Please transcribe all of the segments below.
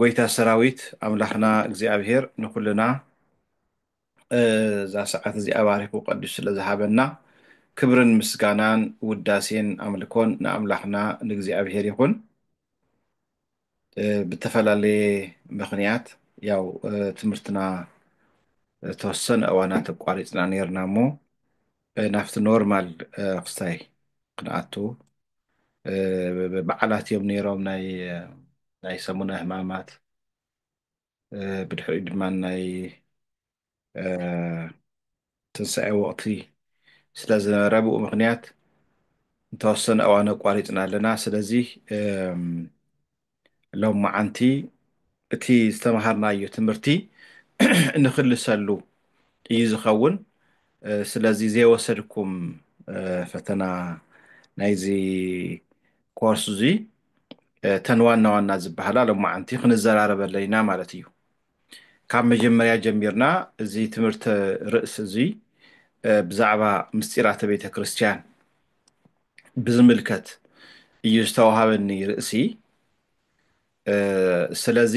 ጎይታ ሰራዊት ኣምላኽና እግዚኣብሄር ንኹልና እዛ ሰዓት እዚኣ ባሪኹ ቀዲሱ ስለ ዝሃበና ክብርን ምስጋናን ውዳሴን ኣምልኮን ንኣምላኽና ንእግዚኣብሄር ይኹን። ብተፈላለየ ምክንያት ያው ትምህርትና ተወሰነ እዋናት ኣቋሪፅና ነርና እሞ ናብቲ ኖርማል ክስታይ ክንኣቱ በዓላት እዮም ነይሮም ናይ ሰሙነ ህማማት ብድሕሪኡ ድማ ናይ ትንሳኤ ወቅቲ ስለ ዝነበረ ብኡ ምክንያት እንተወሰነ እዋን ኣቋሪፅና ኣለና ስለዚ ሎምዓንቲ እቲ ዝተምሃርናዮ ትምህርቲ እንክልሰሉ እዩ ዝኸውን ስለዚ ዘይወሰድኩም ፈተና ናይዚ ኮርስ እዙይ ተን ዋና ዋና ዝበሃላ ሎማዓንቲ ክንዘራረበለን ኢና ማለት እዩ ካብ መጀመርያ ጀሚርና እዚ ትምህርቲ ርእሲ እዙይ ብዛዕባ ምስጢራተ ቤተ ክርስቲያን ብዝምልከት እዩ ዝተዋሃበኒ ርእሲ ስለዚ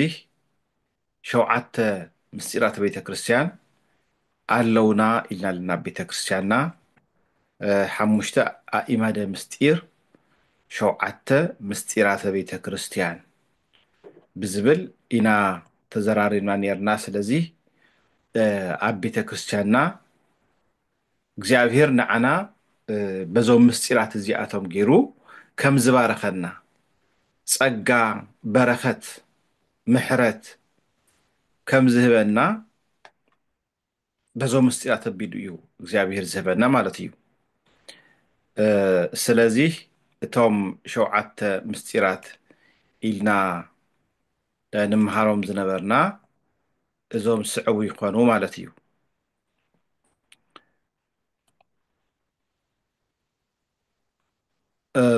ሸውዓተ ምስጢራት ቤተ ክርስቲያን ኣለውና ኢልና ኣለና ቤተ ክርስቲያንና ሓሙሽተ ኣኢማደ ምስጢር ሸውዓተ ምስጢራተ ቤተ ክርስቲያን ብዝብል ኢና ተዘራሪብና ነርና ስለዚ ኣብ ቤተ ክርስቲያንና እግዚኣብሄር ንዓና በዞም ምስጢራት እዚኣቶም ገይሩ ከም ዝባረኸና ጸጋ በረኸት ምሕረት ከም ዝህበና በዞም ምስጢራት ኣቢሉ እዩ እግዚኣብሄር ዝህበና ማለት እዩ ስለዚ እቶም ሸውዓተ ምስጢራት ኢልና ንምሃሮም ዝነበርና እዞም ስዕቡ ይኾኑ ማለት እዩ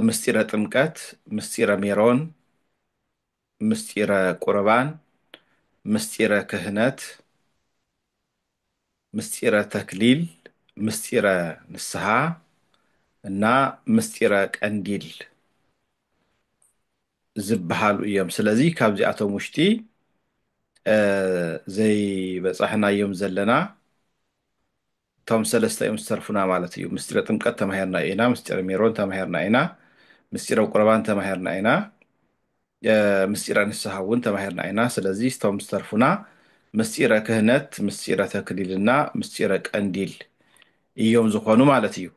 ምስጢረ ጥምቀት፣ ምስጢረ ሜሮን፣ ምስጢረ ቁርባን፣ ምስጢረ ክህነት፣ ምስጢረ ተክሊል፣ ምስጢረ ንስሐ እና ምስጢረ ቀንዲል ዝብሃሉ እዮም ስለዚ ካብዚኣቶም ውሽጢ ዘይበፃሕናዮም ዘለና እቶም ሰለስተ እዮም ዝተርፉና ማለት እዩ ምስጢረ ጥምቀት ተማሂርና ኢና ምስጢረ ሜሮን ተማሂርና ኢና ምስጢረ ቁረባን ተማሂርና ኢና ምስጢረ ንስሓ እውን ተማሂርና ኢና ስለዚ ስቶም ዝተርፉና ምስጢረ ክህነት ምስጢረ ተክሊልና ምስጢረ ቀንዲል እዮም ዝኾኑ ማለት እዩ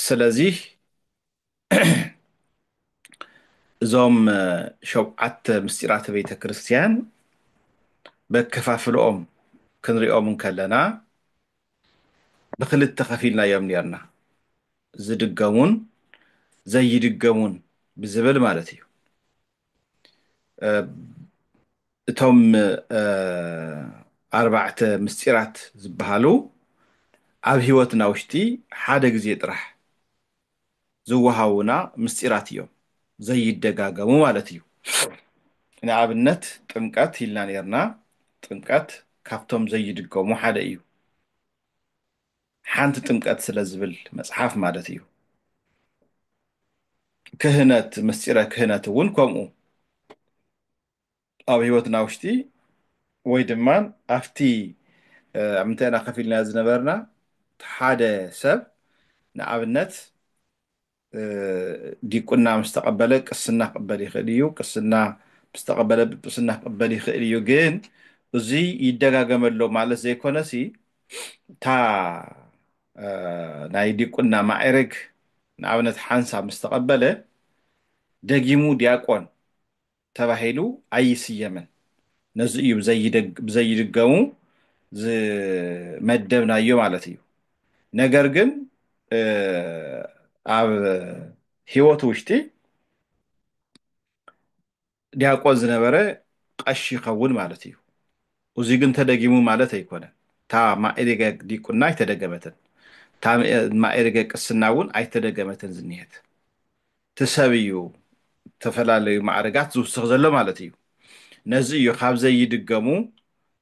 ስለዚህ እዞም ሸውዓተ ምስጢራተ ቤተ ክርስቲያን በከፋፍልኦም ክንሪኦም እንከለና ብክልተ ከፊልናዮም ነርና ዝድገሙን ዘይድገሙን ብዝብል ማለት እዩ እቶም ኣርባዕተ ምስጢራት ዝበሃሉ ኣብ ህይወትና ውሽጢ ሓደ ግዜ ጥራሕ ዝወሃቡና ምስጢራት እዮም ዘይደጋገሙ ማለት እዩ ንኣብነት ጥምቀት ኢልና ኔርና ጥምቀት ካብቶም ዘይድገሙ ሓደ እዩ ሓንቲ ጥምቀት ስለ ዝብል መጽሓፍ ማለት እዩ ክህነት ምስጢረ ክህነት እውን ከምኡ ኣብ ህይወትና ውሽጢ ወይ ድማ ኣብቲ ኣብ ምንታይ ኢና ከፍ ኢልና ዝነበርና ሓደ ሰብ ንኣብነት ዲቁና ምስ ተቐበለ ቅስና ክቕበል ይኽእል እዩ፣ ቅስና ምስ ተቐበለ ጵጵስና ክቕበል ይኽእል እዩ። ግን እዚ ይደጋገመሎ ማለት ዘይኮነሲ እታ ናይ ዲቁና ማዕርግ ንኣብነት ሓንሳብ ምስ ተቐበለ ደጊሙ ዲያቆን ተባሂሉ ኣይስየምን። ነዚ እዩ ብዘይድገሙ ዝመደብናዮ ማለት እዩ። ነገር ግን ኣብ ህይወት ውሽጢ ዲያቆን ዝነበረ ቐሺ ይኸውን ማለት እዩ። እዙይ ግን ተደጊሙ ማለት ኣይኮነን። እታ ማእሪገ ዲቁና ኣይተደገመትን፣ እታ ማእሪገ ቅስና እውን ኣይተደገመትን ዝኒሀት። እቲ ሰብ እዩ ዝተፈላለዩ ማዕርጋት ዝውስኽ ዘሎ ማለት እዩ። ነዚ እዩ ካብ ዘይድገሙ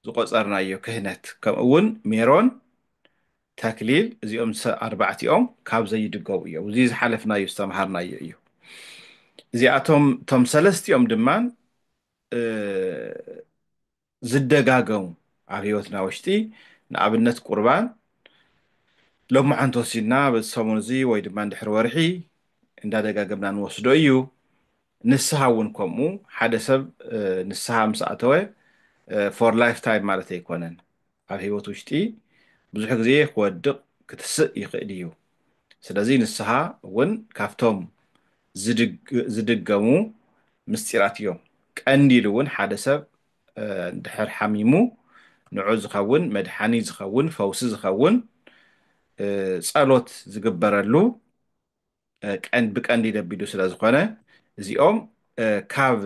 ዝቆጸርናዮ ክህነት ከምኡ እውን ሜሮን፣ ተክሊል እዚኦም ኣርባዕቲኦም ካብ ዘይድገሙ እዮም። እዚ ዝሓለፍናዮ ዝተምሃርናዮ እዩ። እዚኣቶም እቶም ሰለስቲኦም ድማ ዝደጋገሙ ኣብ ህይወትና ውሽጢ ንኣብነት ቁርባን ሎማዓንቲ ወሲድና በዚ ሰሙን እዚ ወይ ድማ ንድሕሪ ወርሒ እንዳደጋገምና ንወስዶ እዩ ንስሃ እውን ከምኡ ሓደ ሰብ ንስሃ ምስ ኣተወ ፎር ላይፍ ታይም ማለት ኣይኮነን ኣብ ህይወት ውሽጢ ብዙሕ ግዜ ክወድቕ ክትስእ ይኽእል እዩ ስለዚ ንስሃ እውን ካብቶም ዝድገሙ ምስጢራት እዮም። ቀንዲሉ እውን ሓደ ሰብ እንድሕር ሓሚሙ ንዑ ዝኸውን መድሓኒ ዝኸውን ፈውሲ ዝኸውን ጸሎት ዝግበረሉ ብቀንዲ ደቢዱ ስለዝኾነ እዚኦም ካብ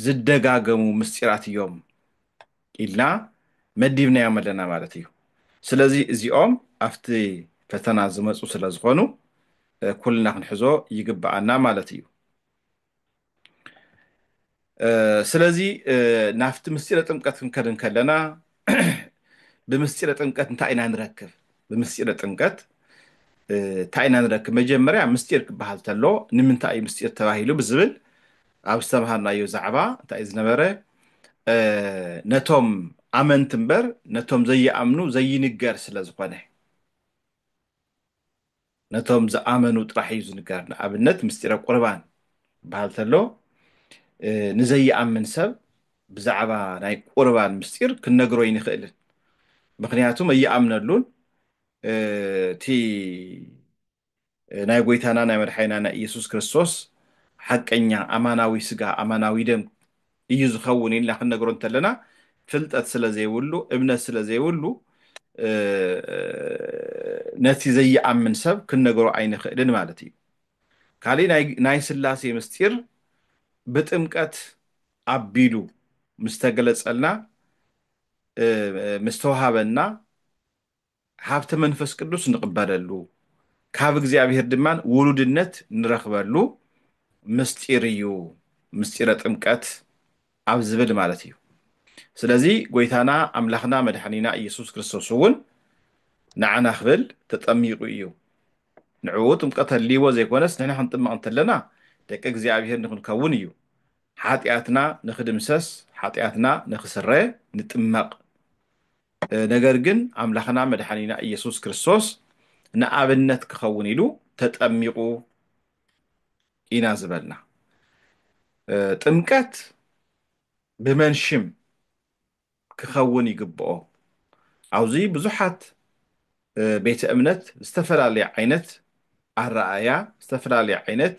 ዝደጋገሙ ምስጢራት እዮም ኢልና መዲብናዮም ኣለና ማለት እዩ። ስለዚ እዚኦም ኣብቲ ፈተና ዝመፁ ስለ ዝኾኑ ኩልና ክንሕዞ ይግብኣና ማለት እዩ። ስለዚ ናብቲ ምስጢረ ጥምቀት ክንከድ እንከለና ብምስጢረ ጥምቀት እንታይ ኢና ንረክብ ብምስጢረ ጥምቀት እንታይ ኢና ንረክብ መጀመርያ ምስጢር ክበሃል ተሎ ንምንታይ እዩ ምስጢር ተባሂሉ ብዝብል ኣብ ዝተምሃርናዮ ዛዕባ እንታይ እዩ ዝነበረ ነቶም ኣመንቲ እምበር ነቶም ዘይኣምኑ ዘይንገር ስለ ዝኾነ ነቶም ዝኣመኑ ጥራሕ እዩ ዝንገር። ንኣብነት ምስጢረ ቁርባን ክበሃል ተሎ ንዘይኣምን ሰብ ብዛዕባ ናይ ቁርባን ምስጢር ክንነግሮ ኣይንኽእልን። ምኽንያቱ ኣይኣምነሉን እቲ ናይ ጎይታና ናይ መድሓኒና ናይ ኢየሱስ ክርስቶስ ሓቀኛ ኣማናዊ ስጋ ኣማናዊ ደም እዩ ዝኸውን ኢልና ክንነግሮ እንተለና ፍልጠት ስለ ዘይብሉ እምነት ስለ ዘይብሉ ነቲ ዘይኣምን ሰብ ክንነግሮ ኣይንኽእልን ማለት እዩ። ካሊእ ናይ ስላሴ ምስጢር ብጥምቀት ኣቢሉ ምስ ተገለፀልና ምስ ተውሃበና ሃብተ መንፈስ ቅዱስ ንቕበለሉ፣ ካብ እግዚኣብሔር ድማ ውሉድነት ንረኽበሉ ምስጢር እዩ፣ ምስጢረ ጥምቀት ኣብ ዝብል ማለት እዩ። ስለዚ ጐይታና ኣምላኽና መድኃኒና ኢየሱስ ክርስቶስ እውን ንዓና ክብል ተጠሚቑ እዩ። ንዕኡ ጥምቀት ኣድልይዎ ዘይኮነስ ንሕና ክንጥመቕ እንተለና ደቂ እግዚኣብሔር ንክንከውን እዩ። ኃጢኣትና ንክድምሰስ፣ ኃጢኣትና ንክስረ ንጥመቕ። ነገር ግን ኣምላኽና መድሓኒና ኢየሱስ ክርስቶስ ንኣብነት ክኸውን ኢሉ ተጠሚቑ ኢና ዝበልና። ጥምቀት ብመን ሽም ክኸውን ይግብኦ? ኣብዙይ ብዙሓት ቤተ እምነት ዝተፈላለየ ዓይነት ኣረኣእያ፣ ዝተፈላለየ ዓይነት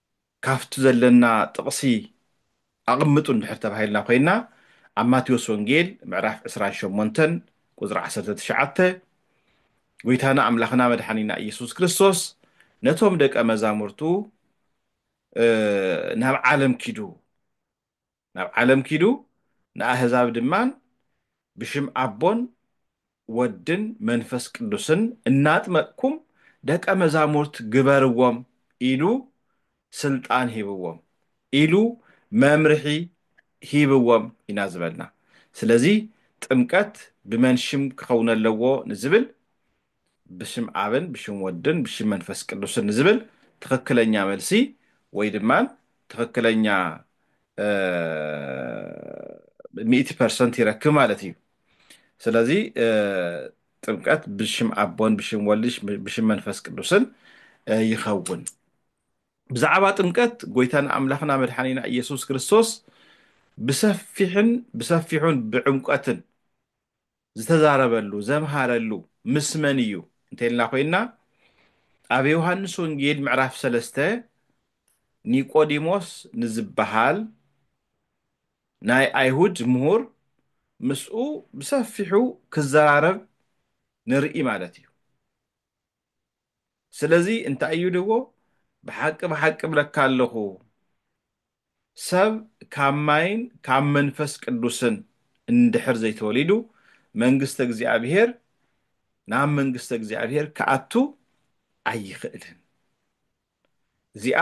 ካብቲ ዘለና ጥቕሲ ኣቕምጡ እንድሕር ተባሂልና ኮይና ኣብ ማቴዎስ ወንጌል ምዕራፍ ዕስራን ሸሞንተን ቁጽሪ ዓሰርተ ትሽዓተ ጎይታና ኣምላኽና መድሓኒና ኢየሱስ ክርስቶስ ነቶም ደቀ መዛሙርቱ ናብ ዓለም ኪዱ ናብ ዓለም ኪዱ ንኣህዛብ ድማ ብሽም ኣቦን ወድን መንፈስ ቅዱስን እናጥመቅኩም ደቀ መዛሙርት ግበርዎም ኢሉ ስልጣን ሂብዎም ኢሉ መምርሒ ሂብዎም ኢና ዝበልና ስለዚ ጥምቀት ብመን ሽም ክኸውነለዎ ንዝብል ብሽም ኣብን ብሽም ወድን ብሽም መንፈስ ቅዱስን ዝብል ትኽክለኛ መልሲ ወይ ድማ ትኽክለኛ ሚእቲ ፐርሰንት ይረክብ ማለት እዩ። ስለዚ ጥምቀት ብሽም ኣቦን ብሽም ወልድ ብሽም መንፈስ ቅዱስን ይኸውን። ብዛዕባ ጥምቀት ጎይታና ኣምላኽና መድሓኒና ኢየሱስ ክርስቶስ ብሰፊሕን ብሰፊሑን ብዕምቀትን ዝተዛረበሉ፣ ዘምሃረሉ፣ ምስ መን እዩ እንተይልና ኮይንና ኣብ ዮሃንስ ወንጌል ምዕራፍ ሰለስተ ኒቆዲሞስ ንዝበሃል ናይ ኣይሁድ ምሁር ምስኡ ብሰፊሑ ክዘራረብ ንርኢ ማለት እዩ። ስለዚ እንታይ እዩ ድዎ ብሓቂ ብሓቂ እብለካ ኣለኹ ሰብ ካብ ማይን ካብ መንፈስ ቅዱስን እንድሕር ዘይተወሊዱ መንግስተ እግዚኣብሔር ናብ መንግስተ እግዚኣብሔር ክኣቱ ኣይኽእልን። እዚኣ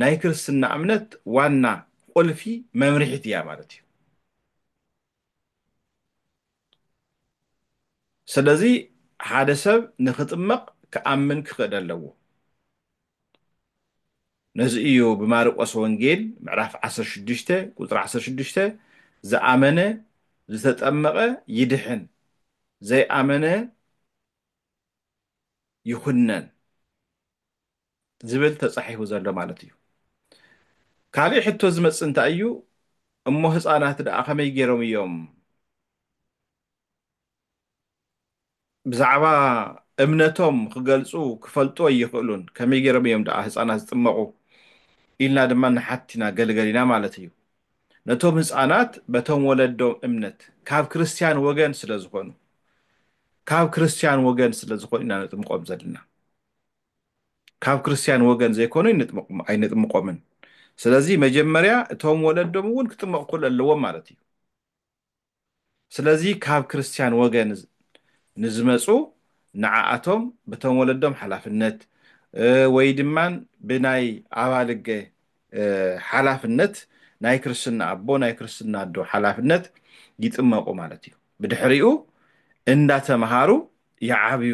ናይ ክርስትና እምነት ዋና ቁልፊ መምርሒት እያ ማለት እዩ። ስለዚ ሓደ ሰብ ንክጥመቕ ክኣምን ክኽእል ኣለዎ። ነዚ እዩ ብማርቆስ ወንጌል ምዕራፍ 16 ቁፅሪ 16 ዝኣመነ ዝተጠመቐ ይድሕን ዘይኣመነ ይኹነን ዝብል ተጻሒፉ ዘሎ ማለት እዩ። ካልእ ሕቶ ዝመጽእ እንታይ እዩ፣ እሞ ህጻናት ደኣ ከመይ ገይሮም እዮም ብዛዕባ እምነቶም ክገልጹ ክፈልጡ ኣይኽእሉን፣ ከመይ ገይሮም እዮም ደኣ ህጻናት ዝጥመቑ ኢልና ድማ ንሓትት ኢና ገለገለ ኢና ማለት እዩ። ነቶም ህጻናት በቶም ወለዶም እምነት ካብ ክርስትያን ወገን ስለ ዝኾኑ ካብ ክርስትያን ወገን ስለ ዝኾኑ ኢና ነጥምቆም ዘለና። ካብ ክርስትያን ወገን ዘይኮኑ ኣይነጥምቆምን ስለዚ መጀመርያ እቶም ወለዶም እውን ክጥመቕ ኩል ኣለዎም ማለት እዩ ስለዚ ካብ ክርስትያን ወገን ንዝመፁ ንዓኣቶም ብቶም ወለዶም ሓላፍነት ወይ ድማ ብናይ ኣባልገ ሓላፍነት ናይ ክርስትና ኣቦ ናይ ክርስትና ኣዶ ሓላፍነት ይጥመቁ ማለት እዩ ብድሕሪኡ እንዳተምሃሩ ይዓብዩ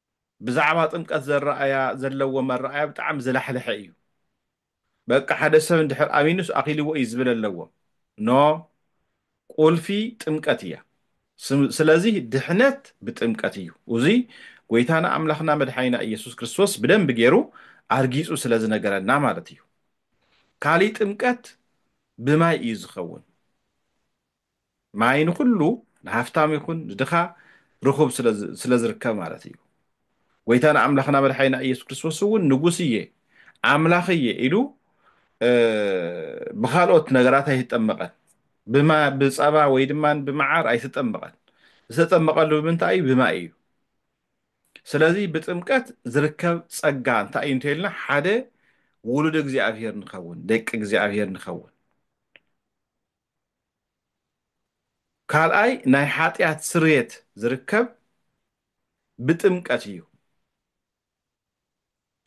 ብዛዕባ ጥምቀት ዘረኣያ ዘለዎ መረኣያ ብጣዕሚ ዝላሕለሐ እዩ በቃ ሓደ ሰብ እንድሕር ኣሚኑስ ኣኺልዎ እዩ ዝብል ኣለዎም ኖ ቁልፊ ጥምቀት እያ ስለዚ ድሕነት ብጥምቀት እዩ እዙይ ጎይታና ኣምላኽና መድሓኒና ኢየሱስ ክርስቶስ ብደንብ ገይሩ ኣርጊጹ ስለ ዝነገረና ማለት እዩ ካሊእ ጥምቀት ብማይ እዩ ዝኸውን ማይ ንኹሉ ንሃፍታም ይኹን ንድኻ ርኹብ ስለ ዝርከብ ማለት እዩ። ጎይታና ኣምላኽና መድሓኒና ኢየሱስ ክርስቶስ እውን ንጉስ እየ ኣምላኽ እየ ኢሉ ብካልኦት ነገራት ኣይተጠመቐን። ብፀባ ወይ ድማ ብመዓር ኣይተጠመቐን። ዝተጠመቐሉ ብምንታይ እዩ? ብማይ እዩ። ስለዚ ብጥምቀት ዝርከብ ፀጋ እንታይ እዩ እንተይልና ሓደ ውሉድ እግዚኣብሔር ንኸውን፣ ደቂ እግዚኣብሔር ንኸውን። ካልኣይ ናይ ሓጢኣት ስርየት ዝርከብ ብጥምቀት እዩ።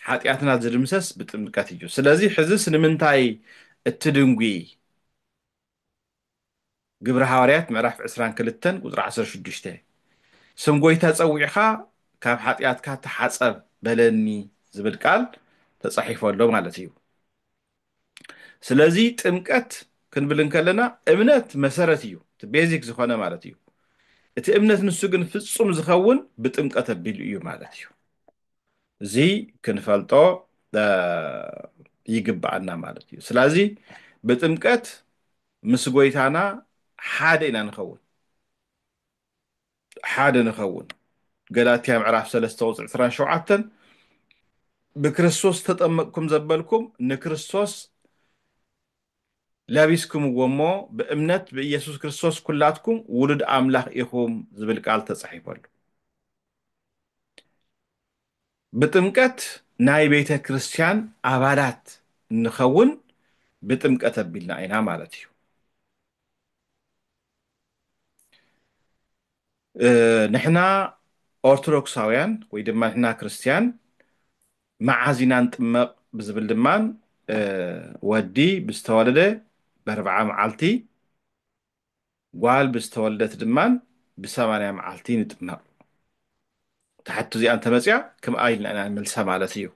ሓጢኣትና ዝድምሰስ ብጥምቀት እዩ። ስለዚ ሕዝስ ንምንታይ እትድንጒ? ግብሪ ሃዋርያት ምዕራፍ ዕስራን ክልተን ቁጽሪ ዓሰርተ ሽዱሽተ ስም ጐይታ ጸዊዕካ ካብ ሓጢኣትካ ተሓጸብ በለኒ ዝብል ቃል ተጻሒፉ ኣሎ ማለት እዩ። ስለዚ ጥምቀት ክንብል እንከለና እምነት መሰረት እዩ እቲ ቤዚክ ዝኾነ ማለት እዩ እቲ እምነት ንሱ ግን ፍጹም ዝኸውን ብጥምቀት ኣቢሉ እዩ ማለት እዩ እዚ ክንፈልጦ ይግባኣና ማለት እዩ ስለዚ ብጥምቀት ምስ ጎይታና ሓደ ኢና ንኸውን ሓደ ንኸውን። ገላትያ ምዕራፍ ሰለስተ ቁጽሪ ዕስራን ሸውዓተን ብክርስቶስ ዝተጠመቅኩም ዘበልኩም ንክርስቶስ ለቢስክምዎ እሞ ብእምነት ብኢየሱስ ክርስቶስ ኩላትኩም ውሉድ ኣምላኽ ኢኹም ዝብል ቃል ተጻሒፉ ኣሎ። ብጥምቀት ናይ ቤተ ክርስቲያን ኣባላት ንኸውን ብጥምቀት ኣቢልና ኢና ማለት እዩ። ንሕና ኦርቶዶክሳውያን ወይ ድማ ንሕና ክርስትያን መዓዝ ኢና ንጥመቕ ብዝብል ድማ ወዲ ብዝተወለደ በርብዓ መዓልቲ ጓል ብዝተወለደት ድማ ብሰማንያ መዓልቲ ንጥመቕ ትሓቱ እዚኣ እንተመፅያ ከምኣ ኢልና ኢና ንመልሳ ማለት እዩ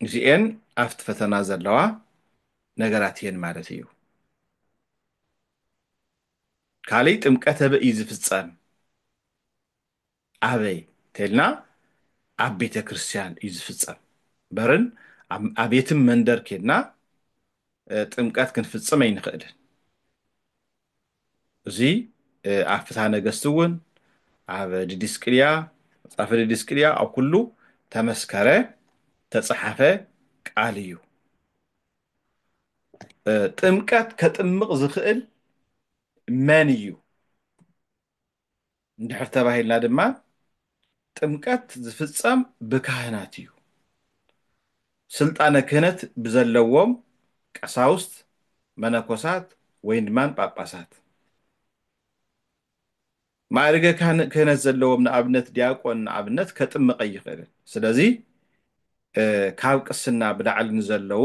እዚኤን ኣብቲ ፈተና ዘለዋ ነገራት እየን ማለት እዩ። ካልይ ጥምቀት ኣበይ እዩ ዝፍፀም? ኣበይ እንተልና ኣብ ቤተ ክርስቲያን እዩ ዝፍፀም በርን ኣብ የትም መንደር ኬድና ጥምቀት ክንፍፅም ኣይንኽእልን። እዚ ኣብ ፍትሃ ነገስት እውን ኣብ ድዲስቅልያ መጽሐፈ ድዲስቅልያ ኣብ ኩሉ ተመስከረ ተጸሓፈ ቃል እዩ። ጥምቀት ከጥምቕ ዝኽእል መን እዩ? እንድሕር ተባሂልና ድማ ጥምቀት ዝፍጸም ብካህናት እዩ። ስልጣነ ክህነት ብዘለዎም ቀሳውስት፣ መነኮሳት ወይን ድማ ጳጳሳት። ማእርገ ክህነት ዘለዎም ንኣብነት ዲያቆን ንኣብነት ከጥምቕ ኣይኽእልን። ስለዚ ካብ ቅስና ብላዕሊ ንዘለዉ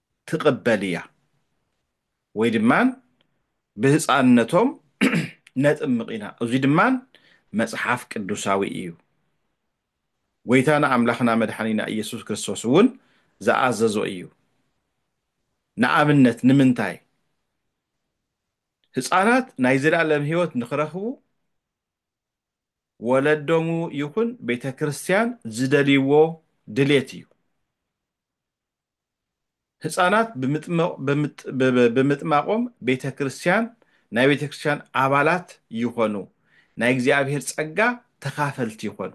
ትቅበል ኢያ ወይ ድማ ብህጻንነቶም ነጥምቅ ኢና እዙይ ድማ መጽሓፍ ቅዱሳዊ ኢዩ ጎይታና ኣምላኽና መድሓኒና ኢየሱስ ክርስቶስ እውን ዝኣዘዞ ኢዩ ንኣብነት ንምንታይ ህጻናት ናይ ዘላለም ህይወት ንክረኽቡ ወለዶሙ ይኹን ቤተክርስትያን ዝደልይዎ ድሌት ኢዩ ህጻናት ብምጥማቖም ቤተ ክርስቲያን ናይ ቤተ ክርስቲያን ኣባላት ይኾኑ፣ ናይ እግዚኣብሔር ጸጋ ተኻፈልቲ ይኾኑ።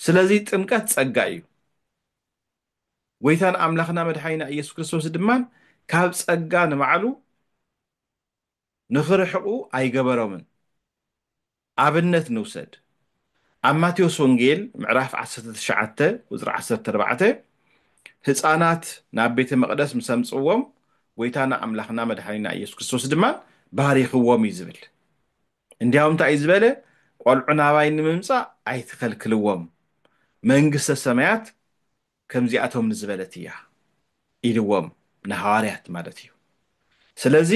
ስለዚ ጥምቀት ጸጋ እዩ። ጎይታና ኣምላኽና መድሓኒና ኢየሱስ ክርስቶስ ድማ ካብ ጸጋ ንባዕሉ ንኽርሕቑ ኣይገበሮምን። ኣብነት ንውሰድ። ኣብ ማቴዎስ ወንጌል ምዕራፍ ዓሰርተ ትሽዓተ ቁጽሪ ዓሰርተ ኣርባዕተ ህጻናት ናብ ቤተ መቕደስ ምስ ኣምጽእዎም ጐይታና ኣምላኽና መድሓኒና ኢየሱስ ክርስቶስ ድማ ባሪኽዎም እዩ ዝብል። እንዲያውም እንታይ እዩ ዝበለ? ቈልዑ ናባይ ንምምጻእ ኣይትኸልክልዎም፣ መንግስተ ሰማያት ከምዚኣቶም ንዝበለት እያ ኢልዎም ንሃዋርያት ማለት እዩ ስለዚ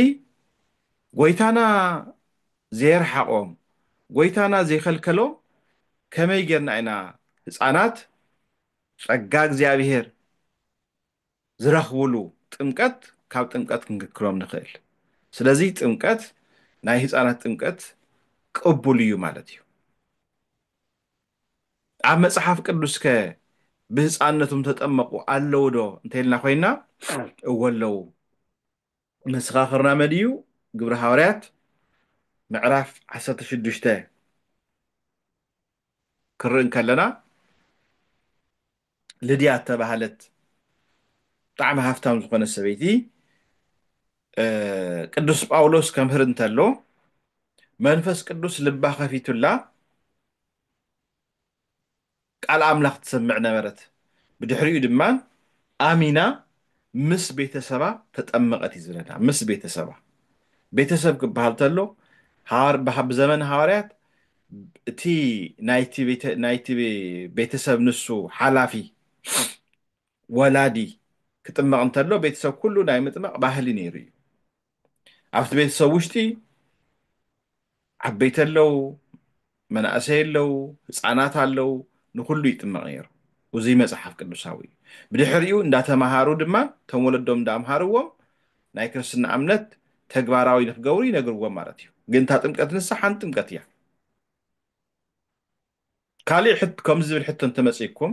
ጎይታና ዘየርሓቆም ጎይታና ዘይከልከሎም ከመይ ጌርና ኢና ህፃናት ፀጋ እግዚኣብሔር ዝረኽብሉ ጥምቀት ካብ ጥምቀት ክንክክሎም ንኽእል ስለዚ ጥምቀት ናይ ህፃናት ጥምቀት ቅቡል እዩ ማለት እዩ ኣብ መጽሓፍ ቅዱስከ ብህጻንነቶም ተጠመቑ ኣለዉዶ እንተይልና ኮይና እወ ኣለዉ። መሰኻኽርና መድዩ ግብሪ ሃዋርያት ምዕራፍ ዓሰርተ ሽዱሽተ ክንርኢ እንከለና፣ ልድያ እተባህለት ብጣዕሚ ሃፍታም ዝኾነት ሰበይቲ ቅዱስ ጳውሎስ ከምህር እንተሎ መንፈስ ቅዱስ ልባ ከፊቱላ ቃል ኣምላኽ ትሰምዕ ነበረት። ብድሕሪኡ ድማ ኣሚና ምስ ቤተሰባ ተጠመቐት እዩ ዝብለና ምስ ቤተሰባ ቤተሰብ ክበሃል ተሎ ብዘመን ሃዋርያት እቲ ናይቲ ቤተሰብ ንሱ ሓላፊ ወላዲ ክጥመቕ እንተሎ ቤተሰብ ኩሉ ናይ ምጥማቕ ባህሊ ነይሩ እዩ ኣብቲ ቤተሰብ ውሽጢ ዓበይቲ ኣለው መናእሰይ ኣለው ህፃናት ኣለው ንኩሉ ይጥመቕ ነይሩ እዙይ መፅሓፍ ቅዱሳዊ እዩ ብድሕሪኡ እንዳተምሃሩ ድማ እቶም ወለዶም እንዳምሃርዎም ናይ ክርስትና እምነት ተግባራዊ ንክገብሩ ይነግርዎም ማለት እዩ ግን እታ ጥምቀት ንሳ ሓንቲ ጥምቀት እያ ካሊእ ከምዚ ዝብል ሕቶ እንተመፅኩም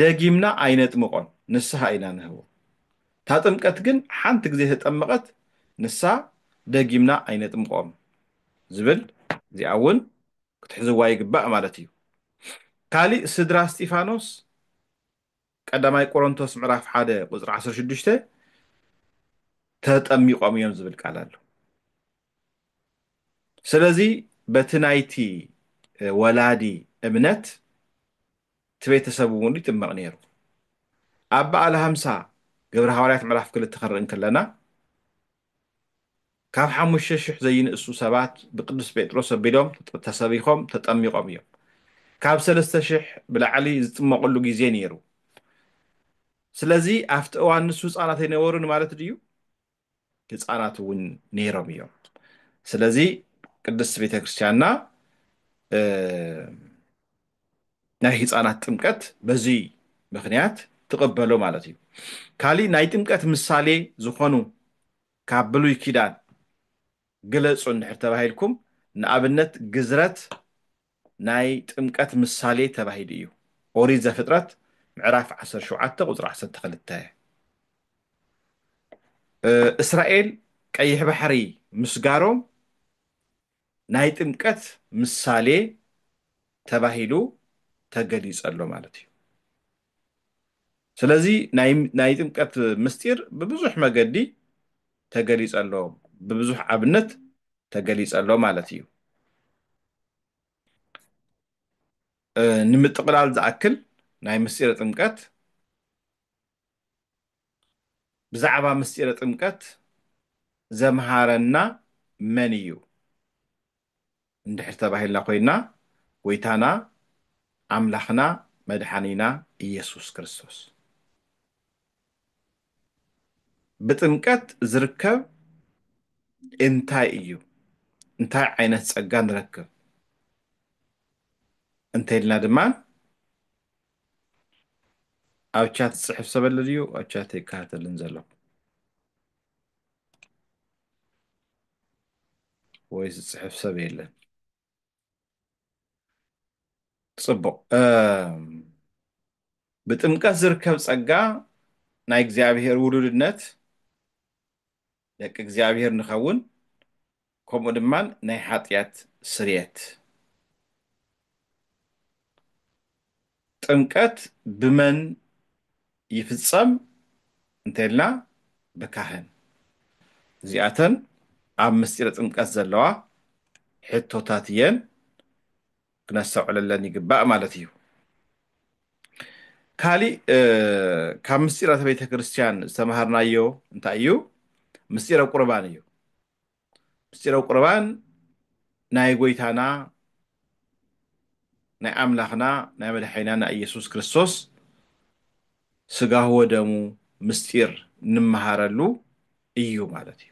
ደጊምና ኣይነጥምቆን ንስሃ ኢና ንህቦ እታ ጥምቀት ግን ሓንቲ ግዜ ተጠመቀት ንሳ ደጊምና ኣይነጥምቆም ዝብል እዚኣ እውን ክትሕዝዋ ይግባእ ማለት እዩ ካሊእ ስድራ እስጢፋኖስ ቀዳማይ ቆሮንቶስ ምዕራፍ ሓደ ቁፅሪ ዓሰርተ ሽዱሽተ ተጠሚቆም እዮም ዝብል ቃል ኣሎ ስለዚ በቲ ናይቲ ወላዲ እምነት እቲ ቤተሰብ እውን ይጥመቕ ነይሩ። ኣብ በዓለ ሃምሳ ግብረ ሃዋርያት ምዕራፍ ክልተ ክንርኢ እንክለና ካብ ሓሙሽተ ሽሕ ዘይንእሱ ሰባት ብቅዱስ ጴጥሮስ ኣቢሎም ተሰቢኾም ተጠሚቖም እዮም። ካብ ሰለስተ ሽሕ ብላዕሊ ዝጥመቕሉ ግዜ ነይሩ። ስለዚ ኣብቲ እዋን ንሱ ህፃናት ኣይነበሩን ማለት ድዩ? ህፃናት እውን ነይሮም እዮም። ስለዚ ቅድስት ቤተ ክርስቲያንና ናይ ህፃናት ጥምቀት በዚ ምክንያት ትቕበሎ ማለት እዩ። ካሊእ ናይ ጥምቀት ምሳሌ ዝኾኑ ካብ ብሉይ ኪዳን ግለፁ እንድሕር ተባሂልኩም ንኣብነት ግዝረት ናይ ጥምቀት ምሳሌ ተባሂሉ እዩ፣ ኦሪት ዘፍጥረት ምዕራፍ ዓሰርተ ሸውዓተ ቁጽሪ ዓሰርተ ክልተ። እስራኤል ቀይሕ ባሕሪ ምስጋሮም ናይ ጥምቀት ምሳሌ ተባሂሉ ተገሊጸ ኣሎ ማለት እዩ። ስለዚ ናይ ጥምቀት ምስጢር ብብዙሕ መገዲ ተገሊጸ ኣሎ፣ ብብዙሕ ኣብነት ተገሊጸ ኣሎ ማለት እዩ። ንምጥቕላል ዝኣክል ናይ ምስጢረ ጥምቀት ብዛዕባ ምስጢረ ጥምቀት ዘምሃረና መን እዩ? እንድሕር ተባሂልና ኮይንና ጎይታና ኣምላኽና መድሓኒና ኢየሱስ ክርስቶስ ብጥምቀት ዝርከብ እንታይ እዩ እንታይ ዓይነት ጸጋ ንረክብ እንተልና ድማ ኣብ ቻት ዝፅሕፍ ሰበለ ድዩ ኣብ ቻት ይከታተልን ዘለኹ ወይ ዝፅሕፍ ሰብ የለን ፅቡቅ ብጥምቀት ዝርከብ ጸጋ ናይ እግዚኣብሔር ውሉድነት ደቂ እግዚኣብሔር ንኸውን ከምኡ ድማ ናይ ሓጢኣት ስርየት ጥምቀት ብመን ይፍጸም እንተይልና ብካህን። እዚኣተን ኣብ ምስጢረ ጥምቀት ዘለዋ ሕቶታት እየን ክነስተውዕለለን ይግባእ ማለት እዩ። ካሊእ ካብ ምስጢራተ ቤተክርስትያን ዝተማሃርናዮ እንታይ እዩ? ምስጢረ ቁርባን እዩ። ምስጢረ ቁርባን ናይ ጎይታና ናይ ኣምላኽና ናይ መድሓኒና ናይ ኢየሱስ ክርስቶስ ስጋሁ ወደሙ ምስጢር እንመሃረሉ እዩ ማለት እዩ።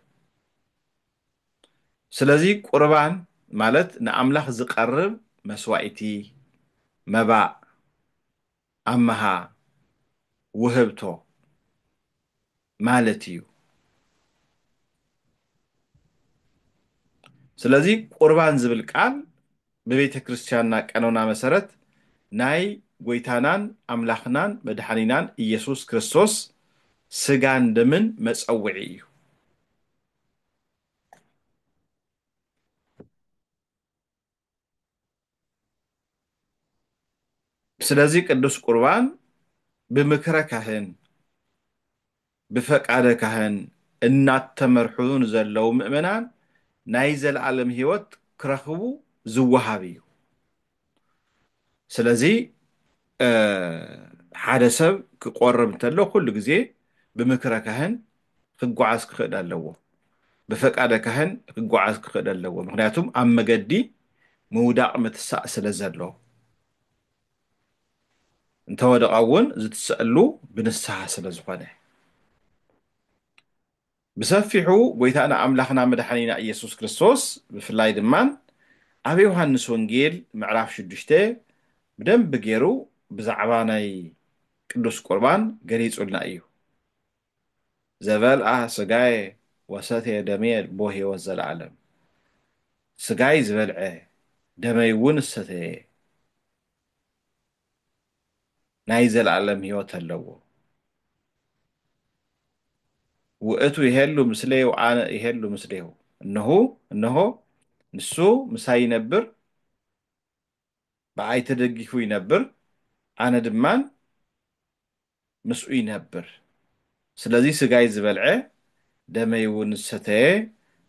ስለዚ ቁርባን ማለት ንኣምላኽ ዝቀርብ መስዋኢቲ፣ መባእ፣ ኣምሃ ውህብቶ ማለት እዩ። ስለዚ ቁርባን ዝብል ቃል ብቤተ ክርስቲያንና ቀኖና መሰረት ናይ ጎይታናን ኣምላኽናን መድሓኒናን ኢየሱስ ክርስቶስ ስጋን ደምን መጸውዒ እዩ። ስለዚ ቅዱስ ቁርባን ብምክረ ካህን ብፈቃደ ካህን እናተመርሑ ንዘለዉ ምእመናን ናይ ዘለዓለም ሕይወት ክረኽቡ ዝወሃብ እዩ። ስለዚ ሓደ ሰብ ክቆርብ እንተሎ ኩሉ ግዜ ብምክረ ካህን ክጓዓዝ ክኽእል ኣለዎ። ብፈቃደ ካህን ክጓዓዝ ክኽእል ኣለዎ። ምክንያቱም ኣብ መገዲ ምውዳቅ ምትሳእ ስለ ዘሎ። እንተወደቐ እውን ዝትሰእሉ ብንስሃ ስለ ዝኾነ። ብሰፊሑ ጎይታና ኣምላኽና መድሓኒና ኢየሱስ ክርስቶስ ብፍላይ ድማ ኣብ ዮሃንስ ወንጌል ምዕራፍ ሽዱሽተ ብደንቢ ገይሩ ብዛዕባ ናይ ቅዱስ ቁርባን ገሊጹልና እዩ ዘበልኣ ስጋየ ወሰትየ ደምየ ልቦ ሕይወት ዘለዓለም ስጋይ ዝበልዐ ደመይ እውን ዝሰተየ ናይ ዘለኣለም ህይወት ኣለዎ። ውእቱ ይሄሉ ምስሌው አነ ይሄሉ ምስሌሁ እነሆ እነሆ ንሱ ምሳይ ይነብር ብኣይ ተደጊፉ ይነብር ኣነ ድማን ምስኡ ይነብር። ስለዚ ስጋይ ዝበልዐ ደመይውን ዝሰተየ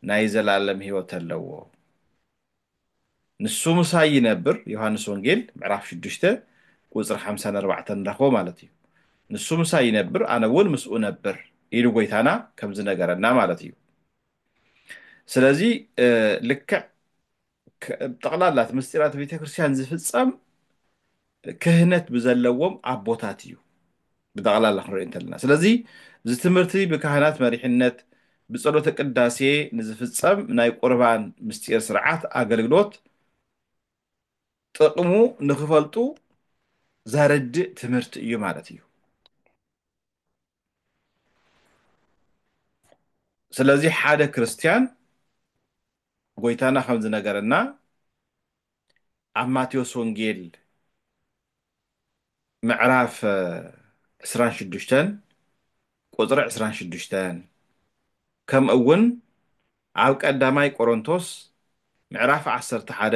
ናይ ዘለኣለም ህይወት ኣለዎ። ንሱ ምሳይ ይነብር፣ ዮሃንስ ወንጌል ምዕራፍ ሽዱሽተ ቁጽሪ ሓምሳን ኣርባዕተን ንረኽቦ ማለት እዩ። ንሱ ምሳይ ይነብር ኣነ እውን ምስኡ እነብር ኢሉ ጎይታና ከም ዝነገረና ማለት እዩ። ስለዚ ልክዕ ጠቕላላ እቲ ምስጢራተ ቤተ ክርስቲያን ዝፍጸም ክህነት ብዘለዎም ኣቦታት እዩ ብጠቕላላ ክንሪኦ እንተለና ስለዚ እዚ ትምህርቲ ብካህናት መሪሕነት ብጸሎተ ቅዳሴ ንዝፍጸም ናይ ቁርባን ምስጢር ስርዓት ኣገልግሎት ጥቕሙ ንክፈልጡ ዘርድእ ትምህርቲ እዩ ማለት እዩ ስለዚ ሓደ ክርስትያን ጎይታና ከም ዝነገረና ኣብ ማቴዎስ ወንጌል ምዕራፍ ዕስራን ሽዱሽተን ቁፅሪ ዕስራን ሽዱሽተን ከምኡ እውን ኣብ ቀዳማይ ቆሮንቶስ ምዕራፍ ዓሰርተ ሓደ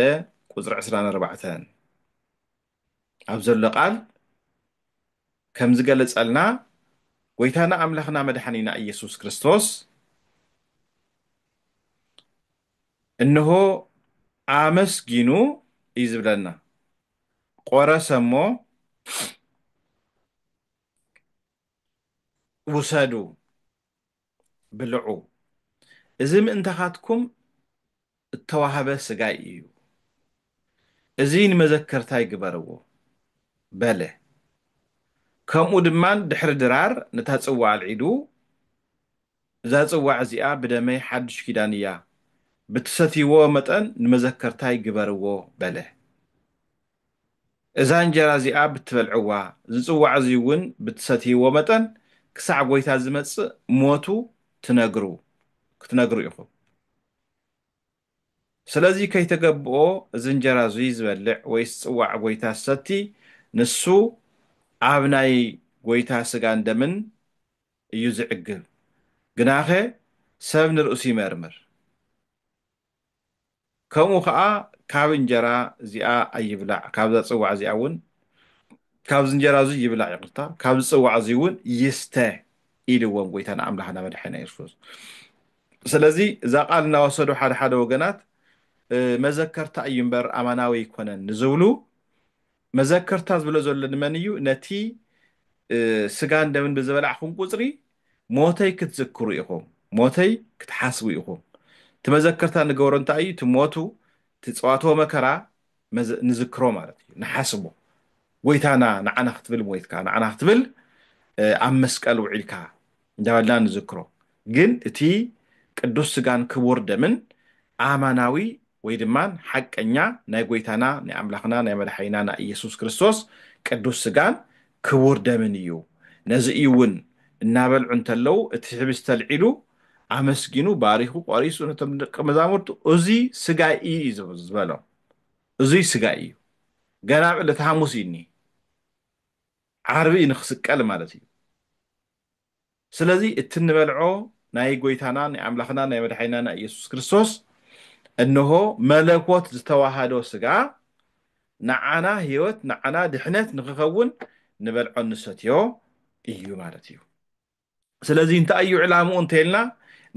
ቁፅሪ ዕስራን ኣርባዕተን ኣብ ዘሎ ቃል ከም ዝገለጸልና ጎይታና ኣምላኽና መድሓኒና ኢየሱስ ክርስቶስ እንሆ ኣመስጊኑ እዩ ዝብለና ቆረሰ እሞ ውሰዱ ብልዑ፣ እዚ ምእንታኻትኩም እተዋህበ ስጋይ እዩ፣ እዚ ንመዘከርታይ ግበርዎ በለ። ከምኡ ድማ ድሕሪ ድራር ነታ ጽዋእ ኣልዒሉ፣ እዛ ጽዋዕ እዚኣ ብደመይ ሓድሽ ኪዳን እያ፣ ብትሰትይዎ መጠን ንመዘከርታይ ግበርዎ በለ። እዛ እንጀራ እዚኣ ብትበልዕዋ፣ እዚ ጽዋዕ እዚ እውን ብትሰትይዎ መጠን፣ ክሳዕ ጐይታ ዚመጽእ ሞቱ ትነግሩ፣ ክትነግሩ ኢኹም። ስለዚ ከይተገብኦ እዚ እንጀራ እዙይ ዚበልዕ ወይስ ጽዋዕ ጐይታ ዚሰቲ፣ ንሱ ኣብ ናይ ጐይታ ሥጋን ደምን እዩ ዚዕግብ። ግናኸ ሰብ ንርእሱ ይመርምር። ከምኡ ከኣ ካብ እንጀራ እዚኣ ኣይብላዕ ካብዛ ጽዋዕ እዚኣ እውን ካብዚ እንጀራ እዚ ይብላዕ ይቅርታ ካብዚ ጽዋዕ እዚ እውን ይስተ ኢልዎም ጎይታና ኣምላኽና መድሓኒና ኢየሱስ ክርስቶስ ስለዚ እዛ ቃል እናወሰዱ ሓደ ሓደ ወገናት መዘከርታ እዩ እምበር ኣማናዊ ኣይኮነን ንዝብሉ መዘከርታ ዝብሎ ዘሎ ንመን እዩ? ነቲ ስጋን ደምን ብዝበላዕኹም ቁጽሪ ሞተይ ክትዝክሩ ኢኹም፣ ሞተይ ክትሓስቡ ኢኹም። እቲ መዘከርታ ንገብሮ እንታይ እዩ? እቲ ሞቱ፣ እቲ ጸዋትወ መከራ ንዝክሮ ማለት እዩ፣ ንሓስቦ። ጎይታና ንዓና ክትብል ሞይትካ፣ ንዓና ክትብል ኣብ መስቀል ውዒልካ፣ እንዳበልና ንዝክሮ ግን እቲ ቅዱስ ስጋን ክቡር ደምን ኣማናዊ ወይ ድማ ሓቀኛ ናይ ጎይታና ናይ ኣምላኽና ናይ መድሓኒና ናይ ኢየሱስ ክርስቶስ ቅዱስ ስጋን ክቡር ደምን እዩ ነዚ እዩ እውን እናበልዑ እንተለዉ እቲ ሕብስቲ ኣልዒሉ ኣመስጊኑ ባሪኹ ቆሪሱ ነቶም ደቀ መዛሙርቱ እዚ ስጋይ እዩ ዝበሎም እዙይ ስጋይ እዩ ገና ኣብ ዕለተ ሓሙስ እዩ እኒ ዓርቢ እዩ ንክስቀል ማለት እዩ ስለዚ እቲ እንበልዖ ናይ ጎይታና ናይ ኣምላኽና ናይ መድሓኒና ናይ ኢየሱስ ክርስቶስ እንሆ መለኮት ዝተዋሃዶ ስጋ ንዓና ሕይወት ንዓና ድሕነት ንኽኸውን ንበልዖ ንሰትዮ እዩ ማለት እዩ። ስለዚ እንታይ እዩ ዕላምኡ እንተይልና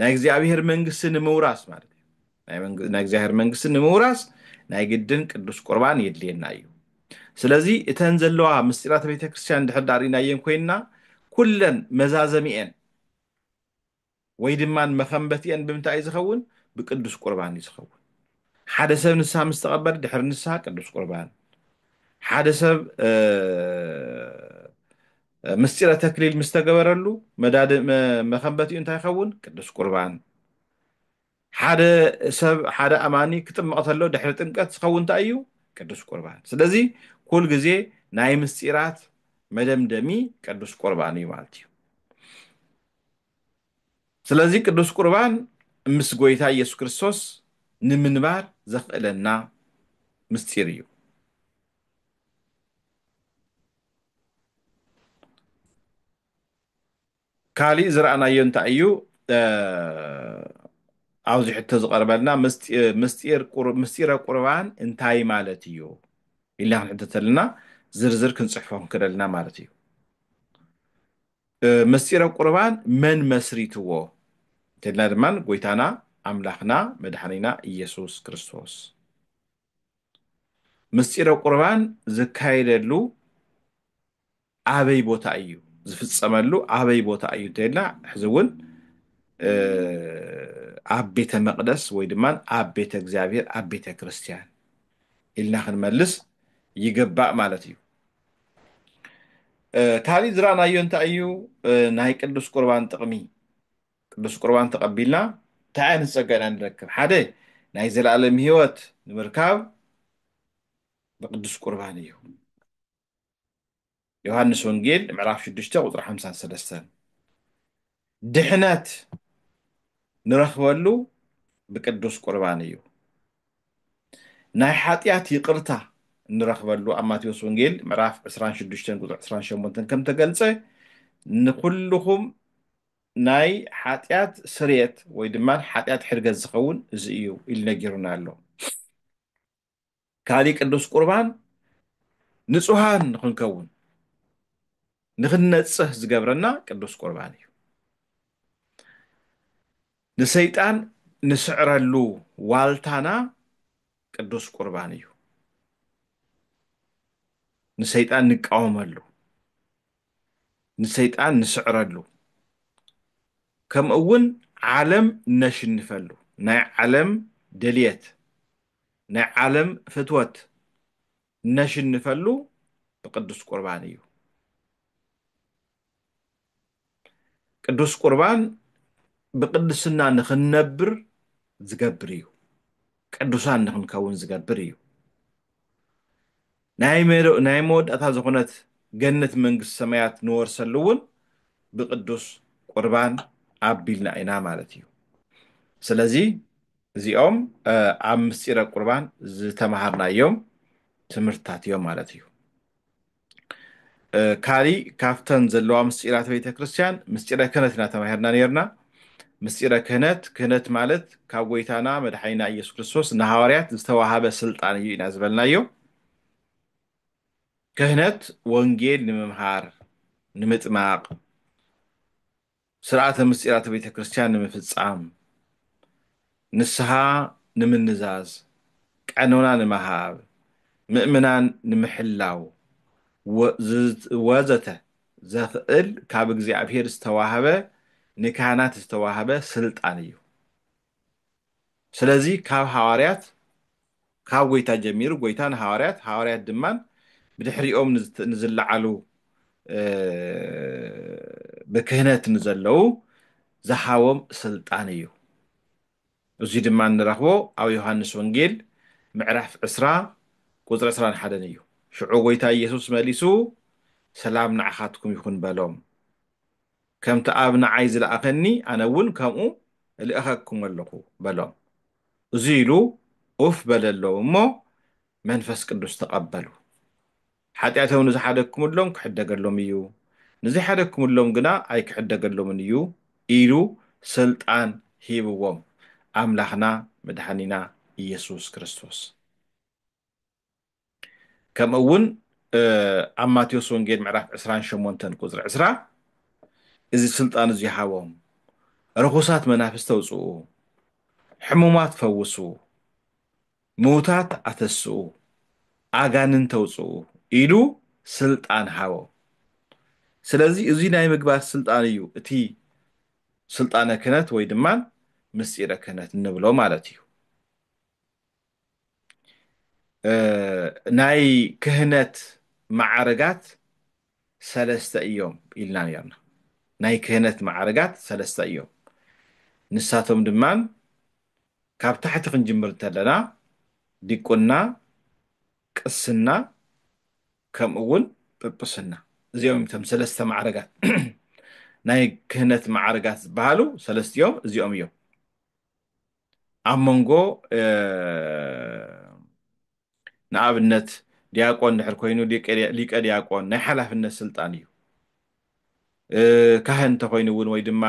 ናይ እግዚኣብሔር መንግስቲ ንምውራስ ማለት እዩ። ናይ እግዚኣብሔር መንግስቲ ንምውራስ ናይ ግድን ቅዱስ ቁርባን የድልየና እዩ ስለዚ እተን ዘለዋ ምስጢራተ ቤተ ክርስቲያን ድሕር ዳር ሪእናየን ኮይንና ኩለን መዛዘሚኤን ወይ ድማ መኸንበቲኤን ብምንታይ እዩ ዝኸውን ብቅዱስ ቁርባን እዩ ዝኸውን ሓደ ሰብ ንስሓ ምስ ተቐበል ድሕሪ ንስሓ ቅዱስ ቁርባን ሓደ ሰብ ምስጢረ ተክሊል ምስ ተገበረሉ መዳድ መኸንበቲኡ እንታይ ይኸውን ቅዱስ ቁርባን ሓደ ሰብ ሓደ ኣማኒ ክጥመቕ ተሎ ድሕሪ ጥምቀት ዝኸውን እንታይ እዩ? ቅዱስ ቁርባን። ስለዚ ኩል ግዜ ናይ ምስጢራት መደምደሚ ቅዱስ ቁርባን እዩ ማለት እዩ። ስለዚ ቅዱስ ቁርባን ምስ ጎይታ ኢየሱስ ክርስቶስ ንምንባር ዘኽእለና ምስጢር እዩ። ካሊእ ዝረኣናዮ እንታይ እዩ ኣብዚ ሕቶ ዝቐርበልና ምስጢረ ቁርባን እንታይ ማለት እዩ ኢልና ክንሕቶ ተለና ዝርዝር ክንፅሕፎ ክንክእል ኣለና ማለት እዩ። ምስጢረ ቁርባን መን መስሪትዎ እንተልና ድማ ጎይታና ኣምላኽና መድሓኒና ኢየሱስ ክርስቶስ ምስጢረ ቁርባን ዝካየደሉ ኣበይ ቦታ እዩ ዝፍፀመሉ ኣበይ ቦታ እዩ እንተይልና ሕዚ እውን ኣብ ቤተ መቅደስ ወይ ድማ ኣብ ቤተ እግዚኣብሔር ኣብ ቤተ ክርስቲያን ኢልና ክንመልስ ይግባእ ማለት እዩ ካልእ ዝረኣናዮ እንታይ እዩ ናይ ቅዱስ ቁርባን ጥቕሚ ቅዱስ ቁርባን ተቐቢልና እንታይ ዓይነት ፀጋ ኢና ንረክብ ሓደ ናይ ዘለኣለም ህይወት ንምርካብ ብቅዱስ ቁርባን እዩ ዮሃንስ ወንጌል ምዕራፍ 6 ቁፅሪ 53 ድሕነት ንረኽበሉ ብቅዱስ ቁርባን እዩ ናይ ሓጢኣት ይቅርታ እንረኽበሉ ኣብ ማቴዎስ ወንጌል ምዕራፍ 26 ቁፅሪ 28 ከም ተገልፀ ንኩልኹም ናይ ሓጢኣት ስርየት ወይ ድማ ሓጢኣት ሕርገት ዝኸውን እዚ እዩ ኢሉ ነጊሩና ኣሎ ካሊእ ቅዱስ ቁርባን ንፁሃን ንክንከውን ንክንነፅህ ዝገብረና ቅዱስ ቁርባን እዩ ንሰይጣን ንስዕረሉ ዋልታና ቅዱስ ቁርባን እዩ ንሰይጣን ንቃወመሉ ንሰይጣን ንስዕረሉ ከምኡ እውን ዓለም ነሽንፈሉ ናይ ዓለም ደልየት ናይ ዓለም ፍትወት እነሽንፈሉ ብቅዱስ ቁርባን እዩ። ቅዱስ ቁርባን ብቅድስና ንክንነብር ዝገብር እዩ። ቅዱሳን ንክንከውን ዝገብር እዩ። ናይ መወዳእታ ዝኹነት ገነት መንግስቲ ሰማያት ንወርሰሉ እውን ብቅዱስ ቁርባን ኣቢልና ኢና ማለት እዩ። ስለዚ እዚኦም ኣብ ምስጢረ ቁርባን ዝተምሃርናዮም ትምህርትታት እዮም ማለት እዩ። ካሊእ ካብተን ዘለዋ ምስጢራተ ቤተ ክርስቲያን ምስጢረ ክህነት ኢና ተማሂርና ኔርና። ምስጢረ ክህነት፣ ክህነት ማለት ካብ ጎይታና መድሓኒና ኢየሱስ ክርስቶስ ንሃዋርያት ዝተዋሃበ ስልጣን እዩ ኢና ዝበልናዮ። ክህነት ወንጌል ንምምሃር፣ ንምጥማቕ፣ ስርዓተ ምሥጢራተ ቤተ ክርስቲያን ንምፍጻም፣ ንስሓ ንምንዛዝ፣ ቀኖና ንምሃብ፣ ምእመናን ንምሕላው፣ ወዘተ ዘኽእል ካብ እግዚኣብሔር ዝተዋህበ ንካህናት ዝተዋህበ ሥልጣን እዩ። ስለዚ ካብ ሃዋርያት ካብ ጎይታ ጀሚሩ ጎይታ ንሃዋርያት ሃዋርያት ድማ ብድሕሪኦም ንዝለዓሉ ብክህነት ንዘለዉ ዝሃቦም ስልጣን እዩ እዙይ ድማ እንረኽቦ ኣብ ዮሃንስ ወንጌል ምዕራፍ ዕስራ ቁፅሪ ዕስራን ሓደን እዩ ሽዑ ጎይታ ኢየሱስ መሊሱ ሰላም ንዓኻትኩም ይኹን በሎም ከምቲ ኣብ ንዓይ ዝለኣኸኒ ኣነ እውን ከምኡ እልእኸኩም ኣለኹ በሎም። እዙይ ኢሉ ኡፍ በለሎም እሞ መንፈስ ቅዱስ ተቐበሉ። ሓጢኣቶም ንዝሓደግኩምሎም ክሕደገሎም እዩ፣ ንዘይሓደግኩምሎም ግና ኣይክሕደገሎምን እዩ ኢሉ ስልጣን ሂብዎም። ኣምላኽና መድሓኒና ኢየሱስ ክርስቶስ። ከምኡ እውን ኣብ ማቴዎስ ወንጌል ምዕራፍ ዕስራን ሸሞንተን ቁፅሪ ዕስራ እዚ ስልጣን እዙይ ሃቦም ርኹሳት መናፍስቲ ተውፅኡ ሕሙማት ፈውሱ ምውታት ኣተስኡ ኣጋንን ተውፅኡ ኢሉ ስልጣን ሃቦ ስለዚ እዙይ ናይ ምግባር ስልጣን እዩ እቲ ስልጣነ ክህነት ወይ ድማ ምስጢረ ክህነት እንብሎ ማለት እዩ ናይ ክህነት መዓርጋት ሰለስተ እዮም ኢልና ነርና። ናይ ክህነት መዓርጋት ሰለስተ እዮም። ንሳቶም ድማ ካብ ታሕቲ ክንጅምር እንተለና ዲቁና፣ ቅስና ከምኡ እውን ጵጵስና እዚኦም እዮም እቶም ሰለስተ መዓርጋት ናይ ክህነት መዓርጋት ዝበሃሉ ሰለስቲኦም እዚኦም እዮም። ኣብ መንጎ ንኣብነት ዲያቆን ድሕር ኮይኑ ሊቀ ዲያቆን ናይ ሓላፍነት ስልጣን እዩ ካህን እንተኮይኑ እውን ወይ ድማ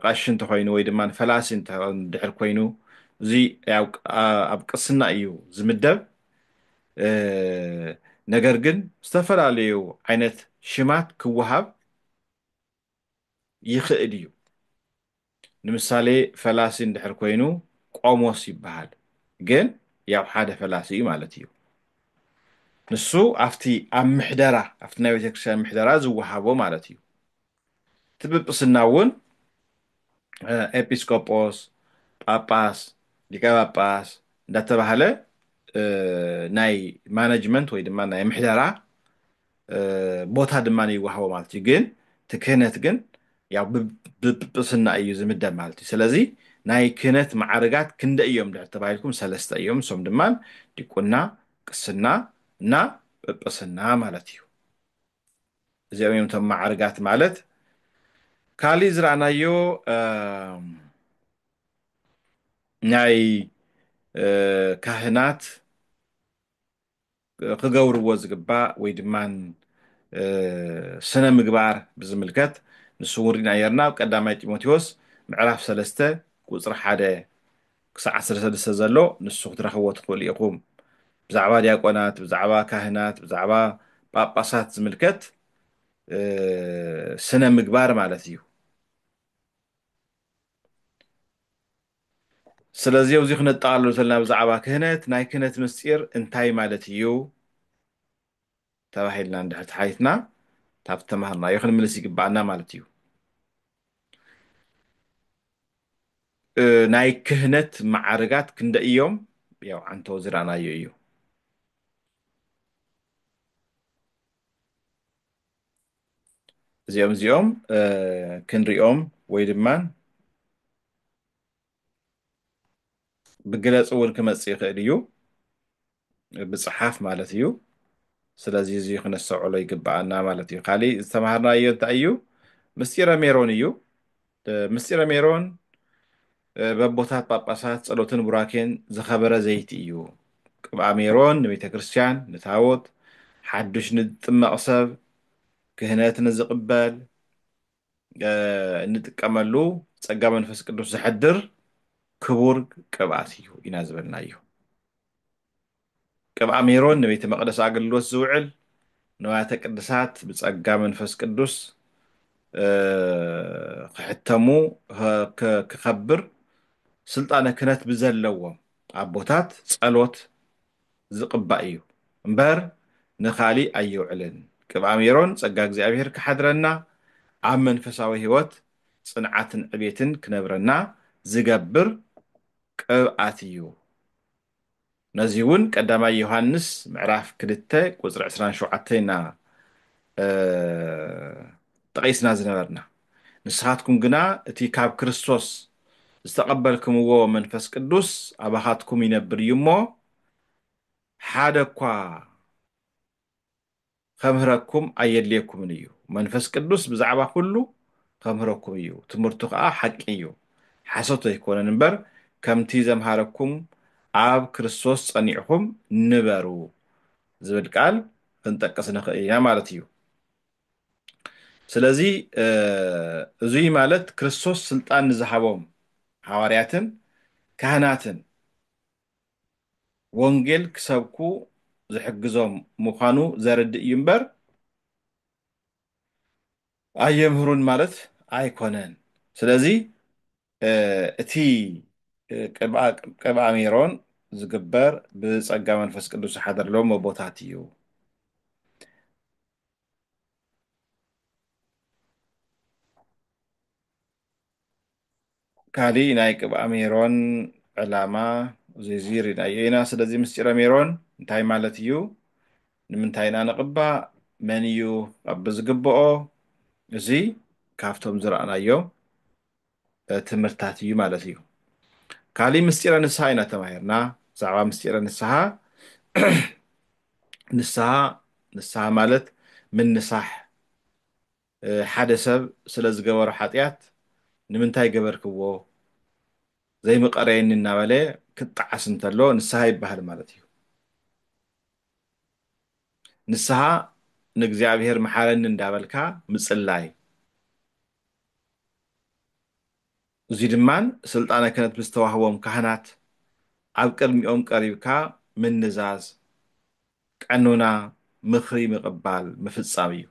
ቀሺ እንተኮይኑ ወይ ድማ ፈላሲ ድሕር ኮይኑ እዚ ኣብ ቅስና እዩ ዝምደብ ነገር ግን ዝተፈላለዩ ዓይነት ሽማት ክወሃብ ይኽእል እዩ። ንምሳሌ ፈላሲ እንድሕር ኮይኑ ቆሞስ ይበሃል ግን ያው ሓደ ፈላሲ እዩ ማለት እዩ። ንሱ ኣብቲ ኣብ ምሕደራ ኣብቲ ናይ ቤተክርስትያን ምሕደራ ዝወሃቦ ማለት እዩ። እቲ ጵጵስና እውን ኤጲስቆጶስ፣ ጳጳስ፣ ሊቀ ጳጳስ እንዳተባህለ ናይ ማነጅመንት ወይ ድማ ናይ ምሕደራ ቦታ ድማ ይወሃቦ ማለት እዩ ግን እቲ ክህነት ግን ያው ብጵጵስና እዩ ዝምደብ ማለት እዩ ስለዚ ናይ ክህነት ማዕርጋት ክንደ እዮም ድሕር ተባሂልኩም ሰለስተ እዮም እሶም ድማ ዲቁና ቅስና እና ጵጵስና ማለት እዩ እዚኦም እዮም እቶም ማዕርጋት ማለት ካሊእ ዝረኣናዮ ናይ ካህናት ክገብርዎ ዝግባእ ወይ ድማ ስነ-ምግባር ብዝምልከት ንሱ እውን ርኢና ነይርና ኣብ ቀዳማይ ጢሞቴዎስ ምዕራፍ ሰለስተ ቁፅሪ ሓደ ክሳዕ ዓሰርተ ሰለስተ ዘሎ ንሱ ክትረኽብዎ ትኽእሉ ኢኹም ብዛዕባ ዲያቆናት ብዛዕባ ካህናት ብዛዕባ ጳጳሳት ዝምልከት ስነ-ምግባር ማለት እዩ ስለዚ ኣብዚ ክነጠቓልሎ ተለና ብዛዕባ ክህነት ናይ ክህነት ምስጢር እንታይ ማለት እዩ ተባሂልና እንድሕር ተሓቲትና ካብቲ ተማሃርናዮ ክንምልስ ይግብኣና ማለት እዩ ናይ ክህነት መዓርጋት ክንደ እዮም ያው ዓንቶ ዝረኣናዮ እዩ እዚኦም እዚኦም ክንሪኦም ወይ ድማ ብግለፂ እውን ክመፅእ ይኽእል እዩ ብፅሓፍ ማለት እዩ ስለዚ እዚ ክነስተውዕሎ ይግብኣና ማለት እዩ ካሊእ ዝተምሃርናዮ እንታይ እዩ ምስጢረ ሜሮን እዩ ምስጢረ ሜሮን በቦታት ጳጳሳት ጸሎትን ቡራኬን ዝኸበረ ዘይቲ እዩ። ቅብኣ ሜሮን ንቤተ ክርስቲያን፣ ንታቦት፣ ሓዱሽ ንዝጥመቕ ሰብ፣ ክህነት ንዝቕበል እንጥቀመሉ ጸጋ መንፈስ ቅዱስ ዘሕድር ክቡር ቅብኣት እዩ ኢና ዝበልናዮ። ቅብኣ ሜሮን ንቤተ መቕደስ ኣገልግሎት ዝውዕል ንዋያተ ቅድሳት ብጸጋ መንፈስ ቅዱስ ክሕተሙ ክኸብር ስልጣነ ክህነት ብዘለዎም ኣቦታት ጸሎት ዝቕባእ እዩ እምበር ንኻሊእ ኣይውዕልን። ቅብኣ ሜሮን ጸጋ እግዚኣብሔር ክሓድረና ኣብ መንፈሳዊ ሕይወት ጽንዓትን ዕቤትን ክነብረና ዝገብር ቅብኣት እዩ። ነዚ እውን ቀዳማይ ዮሃንስ ምዕራፍ ክልተ ቁፅሪ ዕስራን ሸውዓተን ኢና ጠቒስና ዝነበርና ንስኻትኩም ግና እቲ ካብ ክርስቶስ ዝተቐበልክምዎ መንፈስ ቅዱስ ኣባኻትኩም ይነብር እዩ እሞ ሓደ እኳ ኸምህረኩም ኣየድልየኩምን እዩ። መንፈስ ቅዱስ ብዛዕባ ዅሉ ኸምህረኩም እዩ፣ ትምህርቱ ኸኣ ሓቂ እዩ፣ ሓሶት ኣይኰነን እምበር፣ ከምቲ ዘምሃረኩም ኣብ ክርስቶስ ጸኒዕኩም ንበሩ ዝብል ቃል ኽንጠቅስ ንኽእል ኢና ማለት እዩ። ስለዚ፣ እዙይ ማለት ክርስቶስ ስልጣን ንዝሃቦም ሃዋርያትን ካህናትን ወንጌል ክሰብኩ ዝሕግዞም ምዃኑ ዘርድእ እዩ እምበር ኣየምህሩን ማለት ኣይኮነን። ስለዚ እቲ ቅብኣ ሜሮን ዝግበር ብጸጋ መንፈስ ቅዱስ ዝሓደርሎም ኣቦታት እዩ። ካሊእ ናይ ቅብኣ ሜሮን ዕላማ ዚዚ ሪናዮ ኢና ስለዚ ምስጢረ ሜሮን እንታይ ማለት እዩ ንምንታይ ኢና ንቕባእ መን እዩ ክቐብ ዝግብኦ እዚ ካብቶም ዝረኣናዮ ትምህርትታት እዩ ማለት እዩ ካሊእ ምስጢረ ንስሃ ኢና ተማሂርና ብዛዕባ ምስጢረ ንስሃ ንስሃ ንስሃ ማለት ምንሳሕ ሓደ ሰብ ስለ ዝገበሮ ሓጥያት ንምንታይ ገበርክዎ ዘይምቀረየኒ እናበለ ክጣዓስ እንተሎ ንስሃ ይበሃል ማለት እዩ። ንስሃ ንእግዚኣብሔር መሓረኒ እንዳበልካ ምጽላይ። እዙይ ድማ ሥልጣነ ክህነት ምስ ተዋህቦም ካህናት ኣብ ቅድሚኦም ቀሪብካ ምንዛዝ፣ ቀኖና፣ ምኽሪ ምቕባል፣ ምፍጻም እዩ።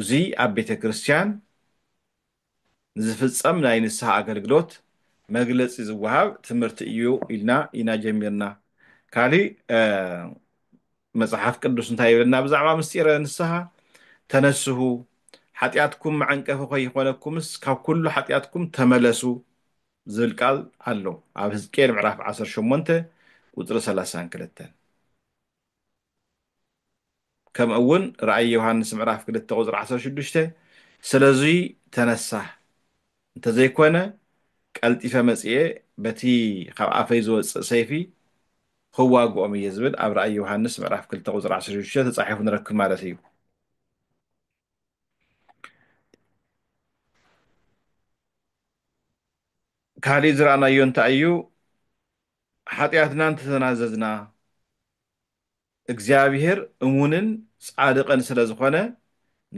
እዙይ ኣብ ቤተ ክርስቲያን ንዝፍጸም ናይ ንስሓ ኣገልግሎት መግለጺ ዝወሃብ ትምህርቲ እዩ ኢልና ኢና ጀሚርና። ካሊእ መጽሓፍ ቅዱስ እንታይ ይብለና ብዛዕባ ምስጢረ ንስሓ? ተነስሁ፣ ሓጢኣትኩም መዐንቀፊ ከይኾነኩምስ ካብ ኩሉ ሓጢኣትኩም ተመለሱ ዝብል ቃል ኣሎ ኣብ ህዝቅኤል ምዕራፍ ዓሰርተ ሸሞንተ ቁጽሪ ሰላሳን ክልተን። ከምኡ እውን ራእይ ዮሃንስ ምዕራፍ ክልተ ቁጽሪ ዓሰርተ ሽዱሽተ ስለዙይ ተነሳህ እንተዘይኮነ ቀልጢፈ መጺኤ በቲ ኻብ ኣፈይ ዝወጽእ ሰይፊ ኽዋግኦም እየ ዝብል ኣብ ራእይ ዮሃንስ ምዕራፍ ክልተ ቁጽሪ ዓሰርተ ሽዱሽተ ተጻሒፉ ንረክብ ማለት እዩ። ካሊእ ዝረኣናዮ እንታይ እዩ? ሓጢኣትና እንተተናዘዝና እግዚኣብሄር እሙንን ጻድቕን ስለ ዝኾነ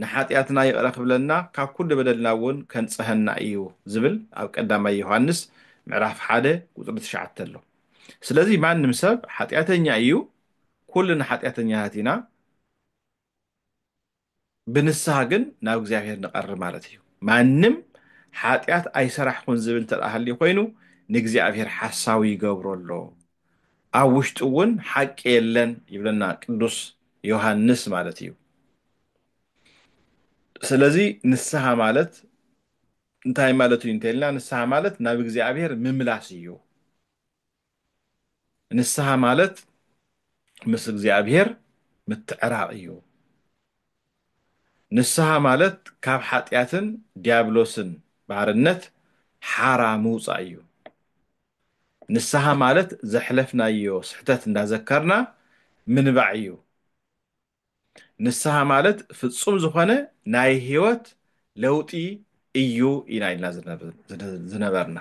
ንሓጢኣትና ይቕረ ክብለና ካብ ኩሉ በደልና እውን ከንጽሀና እዩ ዝብል ኣብ ቀዳማይ ዮሃንስ ምዕራፍ ሓደ ቁጽሪ ትሽዓተ ኣሎ። ስለዚ ማንም ሰብ ሓጢኣተኛ እዩ ኩልና ሓጢኣተኛታት ኢና። ብንስሃ ግን ናብ እግዚኣብሔር ንቐርብ ማለት እዩ ማንም ሓጢኣት ኣይሰራሕኹን ዝብል እንተ ሃልዩ ኮይኑ ንእግዚኣብሔር ሓሳዊ ይገብሮ ኣሎ ኣብ ውሽጡ እውን ሓቂ የለን ይብለና ቅዱስ ዮሃንስ ማለት እዩ ስለዚ ንስሃ ማለት እንታይ ማለት እዩ እንተልና ንስሃ ማለት ናብ እግዚኣብሔር ምምላስ እዩ ንስሃ ማለት ምስ እግዚኣብሔር ምትዕራቕ እዩ። ንስሃ ማለት ካብ ሓጢኣትን ዲያብሎስን ባርነት ሓራ ምውጻእ እዩ። ንስሃ ማለት ዘሕለፍናዮ ስሕተት እንዳዘከርና ምንባዕ እዩ። ንስሃ ማለት ፍጹም ዝኾነ ናይ ህይወት ለውጢ እዩ ኢና ኢልና ዝነበርና።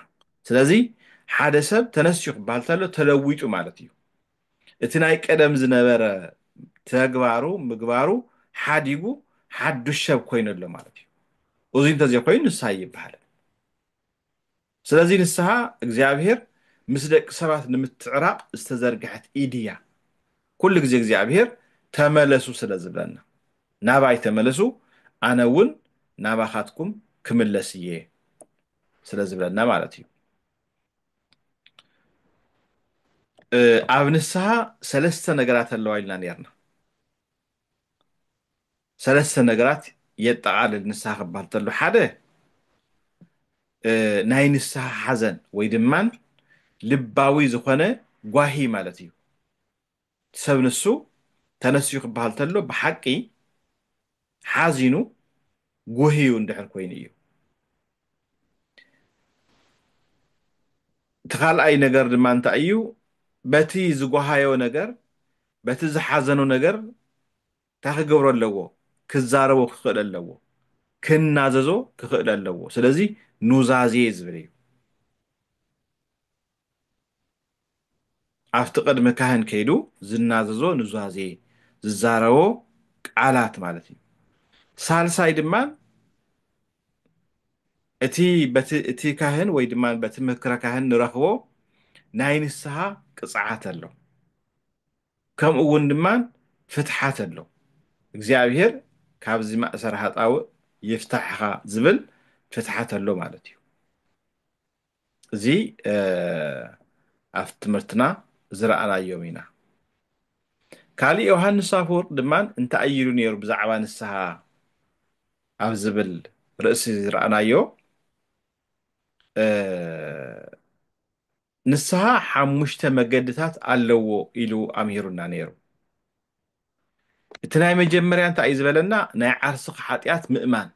ስለዚ ሓደ ሰብ ተነስዩ ክበሃል ተሎ ተለዊጡ ማለት እዩ። እቲ ናይ ቀደም ዝነበረ ተግባሩ ምግባሩ ሓዲጉ ሓዱሽ ሰብ ኮይኑ ኣሎ ማለት እዩ። እዙይ እንተዘይኮይኑ ንስሃ ኣይበሃልን። ስለዚ ንስሃ እግዚኣብሔር ምስ ደቂ ሰባት ንምትዕራቅ ዝተዘርግሐት ኢድ እያ ኩሉ ግዜ እግዚኣብሔር ተመለሱ ስለ ዝብለና ናባይ ተመለሱ ኣነ እውን ናባካትኩም ክምለስ እየ ስለ ዝብለና ማለት እዩ ኣብ ንስሃ ሰለስተ ነገራት ኣለዋ ኢልና ነርና ሰለስተ ነገራት የጠቓልል ንስሃ ክበሃል ተሎ ሓደ ናይ ንስሃ ሓዘን ወይ ድማ ልባዊ ዝኾነ ጓሂ ማለት እዩ። ሰብ ንሱ ተነስዩ ክበሃል ተሎ ብሓቂ ሓዚኑ ጉህዩ እንድሕር ኮይኑ እዩ። እቲ ካልኣይ ነገር ድማ እንታይ እዩ በቲ ዝጓሃዮ ነገር በቲ ዝሓዘኖ ነገር እንታይ ክገብሮ ኣለዎ? ክዛረቦ ክኽእል ኣለዎ። ክናዘዞ ክኽእል ኣለዎ። ስለዚ ኑዛዜ ዝብል እዩ። ኣብቲ ቅድሚ ካህን ከይዱ ዝናዘዞ ኑዛዜ ዝዛረቦ ቃላት ማለት እዩ። ሳልሳይ ድማ እቲ በቲ እቲ ካህን ወይ ድማ በቲ ምክረ ካህን ንረኽቦ ናይ ንስሓ ቅፅዓት ኣሎ ከምኡ እውን ድማ ፍትሓት ኣሎ እግዚኣብሄር ካብዚ ማእሰር ሃጣውእ ይፍታሕኻ ዝብል ፍትሓት ኣሎ ማለት እዩ። እዚ ኣብቲ ትምህርትና ዝረኣናዮም ኢና። ካልእ ዮሃንስ ኣፈወርቅ ድማ እንታይ ኢሉ ነይሩ ብዛዕባ ንስሓ ኣብ ዝብል ርእሲ ዝረኣናዮ ንስሓ ሓሙሽተ መገድታት ኣለዎ ኢሉ ኣምሂሩና ነይሩ። እቲ ናይ መጀመርያ እንታይ እዩ ዝበለና ናይ ዓርስኻ ሓጢኣት ምእማን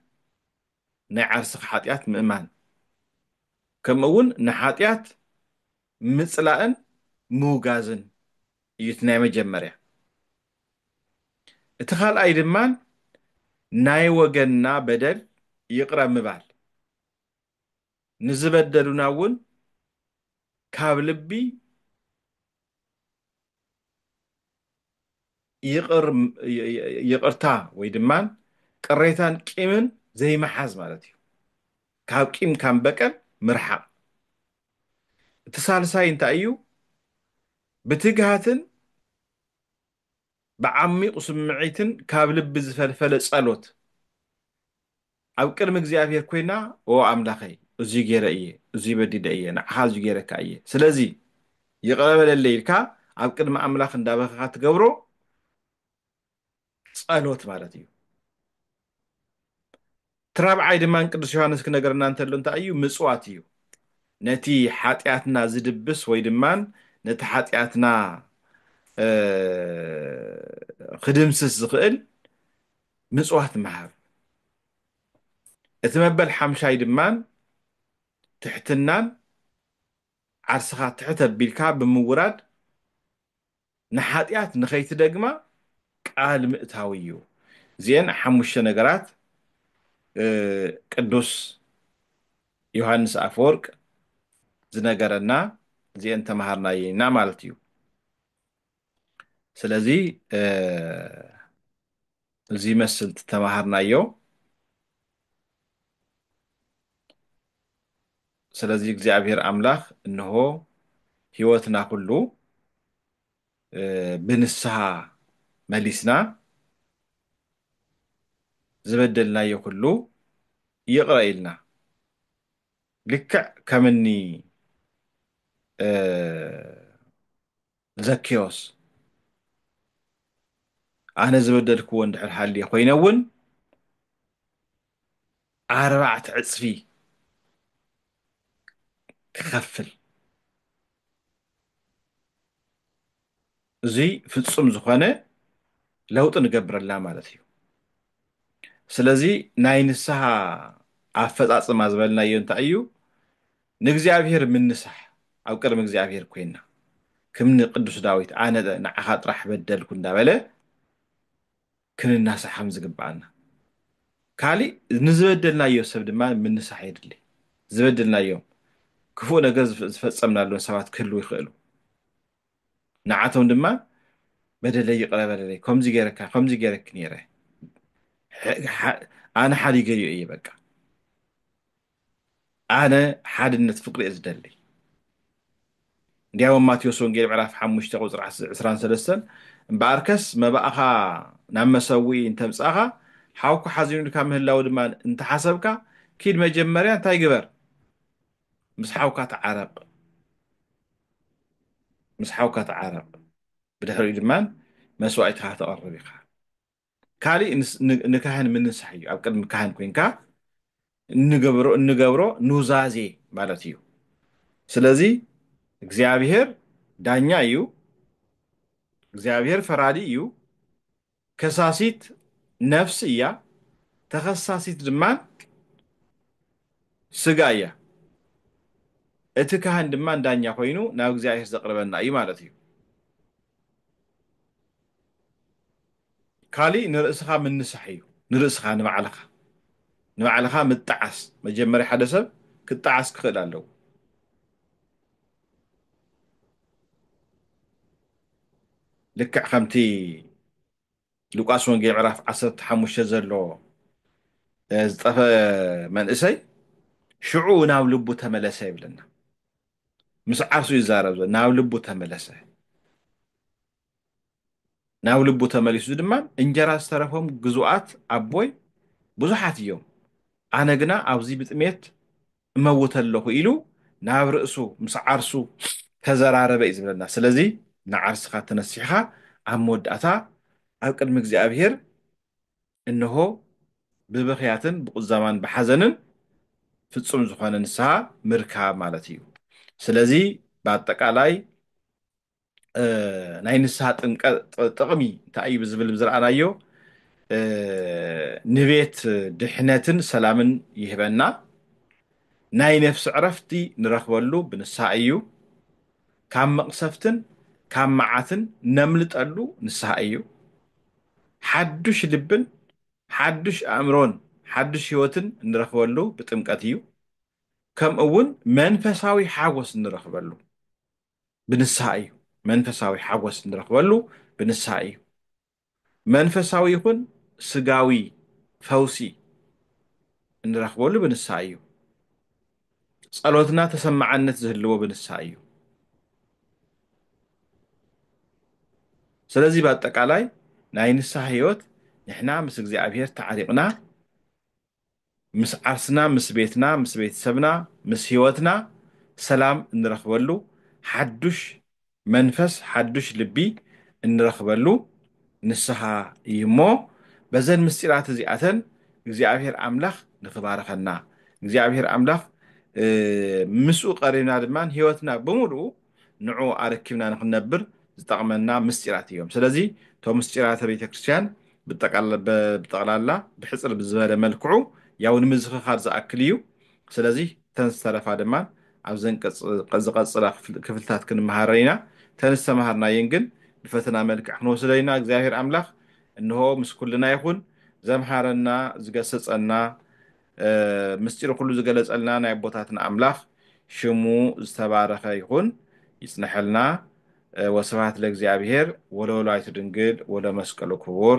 ናይ ዓርስኻ ሓጢኣት ምእማን ከምኡ እውን ንሓጢኣት ምፅላእን ምውጋዝን እዩ እቲ ናይ መጀመርያ። እቲ ካልኣይ ድማ ናይ ወገንና በደል ይቕረ ምባል ንዝበደሉና እውን ካብ ልቢ ይቕርታ ወይ ድማ ቅሬታን ቂምን ዘይምሓዝ ማለት እዩ። ካብ ቂም ካብ በቀል ምርሓቕ። እቲ ሳልሳይ እንታይ እዩ? ብትግሃትን ብዓሚቝ ስምዒትን ካብ ልቢ ዝፈልፈለ ጸሎት ኣብ ቅድሚ እግዚኣብሄር ኰይና ኦ ኣምላኸይ እዙይ ገይረ እየ እዙይ በዲለ እየ ንዓኻ እዙይ ገይረካ እየ ስለዚ ይቕረ በለለይ ኢልካ ኣብ ቅድሚ ኣምላኽ እንዳበኸኻ ትገብሮ ጸሎት ማለት እዩ። እቲ ራብዓይ ድማ ንቅዱስ ዮሃንስ ክነግረና እንተሎ እንታይ እዩ? ምጽዋት እዩ። ነቲ ሓጢኣትና ዝድብስ ወይ ድማ ነቲ ሓጢኣትና ክድምስስ ዝኽእል ምጽዋት ምሃብ። እቲ መበል ሓምሻይ ድማ ትሕትናን ዓርስኻ ትሕት ኣቢልካ ብምውራድ ንሓጢኣት ንኸይትደግማ ቃል ምእታው እዩ። እዚኤን ሓሙሽተ ነገራት ቅዱስ ዮሃንስ ኣፈወርቅ ዝነገረና እዚኤን ተማሃርናየን ኢና ማለት እዩ። ስለዚ እዚ ይመስል እቲ ተማሃርናዮ ስለዚ እግዚኣብሔር ኣምላክ እንሆ ህይወትና ኩሉ ብንስሃ መሊስና ዝበደልናዮ ኩሉ ይቕረ ኢልና ልክዕ ከምኒ ዘኬዎስ ኣነ ዝበደልክዎ እንድሕር ሃልየ ኮይነ እውን ኣርባዕተ ዕፅፊ ክኸፍል እዙይ ፍፁም ዝኾነ ለውጢ ንገብረላ ማለት እዩ ስለዚ ናይ ንስሃ ኣፈፃፅማ ዝበልናዮ እንታይ እዩ ንእግዚኣብሄር ምንሳሕ ኣብ ቅድሚ እግዚኣብሄር ኮይንና ክምኒ ቅዱስ ዳዊት ኣነ ንዓኻ ጥራሕ በደልኩ እንዳበለ ክንናሳሕ ከም ዝግብኣና ካሊእ ንዝበደልናዮ ሰብ ድማ ምንሳሕ የድሊ ዝበደልናዮም ክፉእ ነገር ዝፈጸምናሎም ሰባት ክህልው ይኽእሉ ንዓቶም ድማ በደለይ ይቕረ በለለይ ከምዚ ገይረካ ከምዚ ገይረኪ ነይረ ኣነ ሓዲገዮ እየ በቃ ኣነ ሓድነት ፍቅሪ እየ ዝደሊ እንዲያውም ማቴዎስ ወንጌል ምዕራፍ ሓሙሽተ ቁፅሪ ዕስራን ሰለስተን እምበኣርከስ መባእኻ ናብ መሰዊኢ እንተምፃእኻ ሓውኩ ሓዚኑልካ ምህላው ድማ እንተሓሰብካ ኪድ መጀመርያ እንታይ ግበር ምስ ሓውካ ተዓረቕ ምስ ሓውካ ተዓረቕ ብድሕሪኡ ድማ መስዋእትኻ ተቐርብ ኢኻ ካሊእ ንካህን ምንሳሕ እዩ ኣብ ቅድሚ ካህን ኮይንካ እንገብሮ ኑዛዜ ማለት እዩ ስለዚ እግዚኣብሔር ዳኛ እዩ እግዚኣብሔር ፈራዲ እዩ ከሳሲት ነፍሲ እያ ተኸሳሲት ድማ ስጋ እያ እቲ ካህን ድማ ዳኛ ኮይኑ ናብ እግዚኣብሔር ዘቅርበና እዩ ማለት እዩ ካሊእ ንርእስኻ ምንሳሕ እዩ ንርእስኻ ንባዕልኻ ንባዕልኻ ምጣዓስ መጀመርያ ሓደ ሰብ ክጣዓስ ክኽእል ኣለዎ። ልክዕ ከምቲ ሉቃስ ወንጌል ምዕራፍ ዓሰርተ ሓሙሽተ ዘሎ ዝጠፈ መንእሰይ ሽዑ ናብ ልቡ ተመለሰ ይብለና። ምስ ዓርሱ ይዛረብ ናብ ልቡ ተመለሰ። ናብ ልቡ ተመሊሱ እዚ ድማ እንጀራ ዝተረፎም ግዙኣት ኣቦይ ብዙሓት እዮም ኣነ ግና ኣብዚ ብጥሜት እመውት ኣለኹ ኢሉ ናብ ርእሱ ምስ ዓርሱ ተዘራረበ እዩ ዝብለና ስለዚ ንዓርስኻ ተነሲሕኻ ኣብ መወዳእታ ኣብ ቅድሚ እግዚኣብሔር እንሆ ብብኽያትን ብቁዛማን ብሓዘንን ፍጹም ዝኾነ ንስሃ ምርካብ ማለት እዩ ስለዚ ብኣጠቃላይ ናይ ንስሃ ጥምቀ ጥቕሚ እንታይ እዩ ብዝብል ዝረኣናዮ ንቤት ድሕነትን ሰላምን ይህበና ናይ ነፍሲ ዕረፍቲ ንረኽበሉ ብንስሃ እዩ ካብ መቕሰፍትን ካብ መዓትን ነምልጠሉ ንስሃ እዩ ሓዱሽ ልብን ሓዱሽ ኣእምሮን ሓዱሽ ህይወትን እንረኽበሉ ብጥምቀት እዩ ከምኡ እውን መንፈሳዊ ሓጎስ እንረኽበሉ ብንስሃ እዩ መንፈሳዊ ሓጎስ እንረኽበሉ ብንስሃ እዩ መንፈሳዊ ይኹን ስጋዊ ፈውሲ እንረኽበሉ ብንስሃ እዩ ጸሎትና ተሰማዓነት ዝህልዎ ብንስሃ እዩ ስለዚህ በአጠቃላይ ናይ ንስሃ ህይወት ንሕና ምስ እግዚኣብሔር ተዓሪቕና ምስ ዓርስና፣ ምስ ቤትና፣ ምስ ቤተሰብና፣ ምስ ህይወትና ሰላም እንረኽበሉ፣ ሓዱሽ መንፈስ፣ ሓዱሽ ልቢ እንረኽበሉ ንስሃ እዩ እሞ በዘን ምስጢራት እዚኣተን እግዚኣብሔር ኣምላኽ ንክባርኸና፣ እግዚኣብሔር ኣምላኽ ምስኡ ቀሪብና ድማ ህይወትና ብምሉኡ ንዕኡ ኣረኪብና ንክንነብር ዝጠቕመና ምስጢራት እዮም። ስለዚ እቶም ምስጢራተ ቤተ ክርስቲያን ብጠቕላላ ብሕጽር ብዝበለ መልክዑ ያው ንምዝኽኻር ዝኣክል እዩ። ስለዚ እተን ዝተረፋ ድማ ኣብዚ ኣንቀጽ ዝቐጽላ ክፍልታት ክንመሃረን ኢና። እተን ዝተማሃርናየን ግን ብፈተና መልክዕ ክንወስደን ኢና። እግዚኣብሔር ኣምላኽ እንሆ ምስ ኩልና ይኹን። ዘምሃረና፣ ዝገሰጸና፣ ምስጢሩ ኩሉ ዝገለጸልና ናይ ኣቦታትና ኣምላኽ ሽሙ ዝተባረኸ ይኹን ይጽነሐልና ወስብሃት ለእግዚኣብሔር ወለወላዲቱ ድንግል ወለመስቀሉ ክቡር።